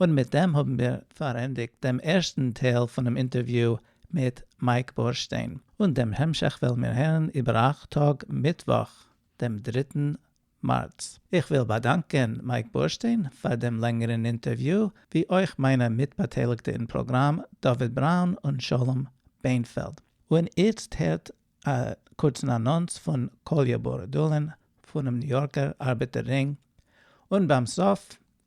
און מיט דעם האבן מיר פארענדיגט דעם ערשטן טייל פונעם אינטערוויו מיט מייק בורשטיין, און דעם המשך וועלן מיר הערן איבער אַכט טאג מיטוואך דעם דריטן מארץ. איך וויל באדאנקען מייק בורשטיין פאר דעם לענגערן אינטערוויו, ווי אויך מיינע מיטבאטייליגטע אין פראגראם דוד בראון און שלום בענפעלד. און איצט הערט א קורצן אנאנס פון קאליא בורדולין פונעם ניו יארקער ארבעטער רינג, און ביים סוף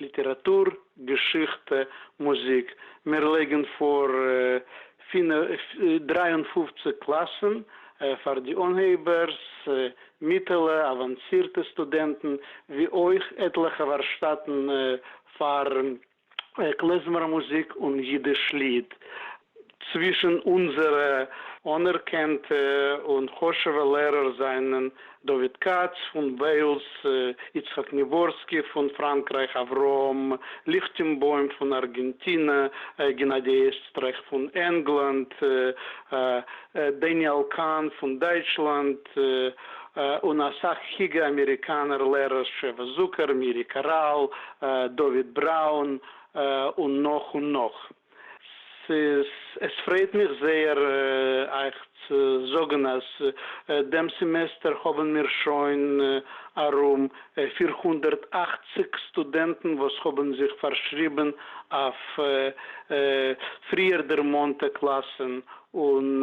ליטעראַטור, געשיכטע, מוזיק, מיר לייגן פֿאָר דרײַ און פֿופֿציק קלאַסן, פֿאַר די אָנהייבערס, מיטעלע, אַוואַנסירטע סטודענטן, ווי אויך עטלעכע וואַרשטאַטן פֿאַר קלעזמער-מוזיק און ייִדיש-ליד. צווישן אונזערע אנערקענטע און חשוב'ע לערער זענען דוד כץ פון וועילס, יצחק ניווארסקי פון פראנקרייך, אברהם ליכטענבוים פון ארגענטינע, גענאדי עסטרייך פון ענגלאנד, דעניעל קאהן פון דייטשלאנד, און אסאך היגע אמעריקאנער לערערס, שבע זוכער, מירי קאראל, דוד בראון, און נאך און נאך. עס פרייט מיך זייער אייך צו זאגן אז דעם סעמעסטער האבן מיר שוין ארום פֿיר הונדערט אַכציק סטודענטן וואס האבן זיך פארשריבן אויף פריערדערמאנטע קלאסן און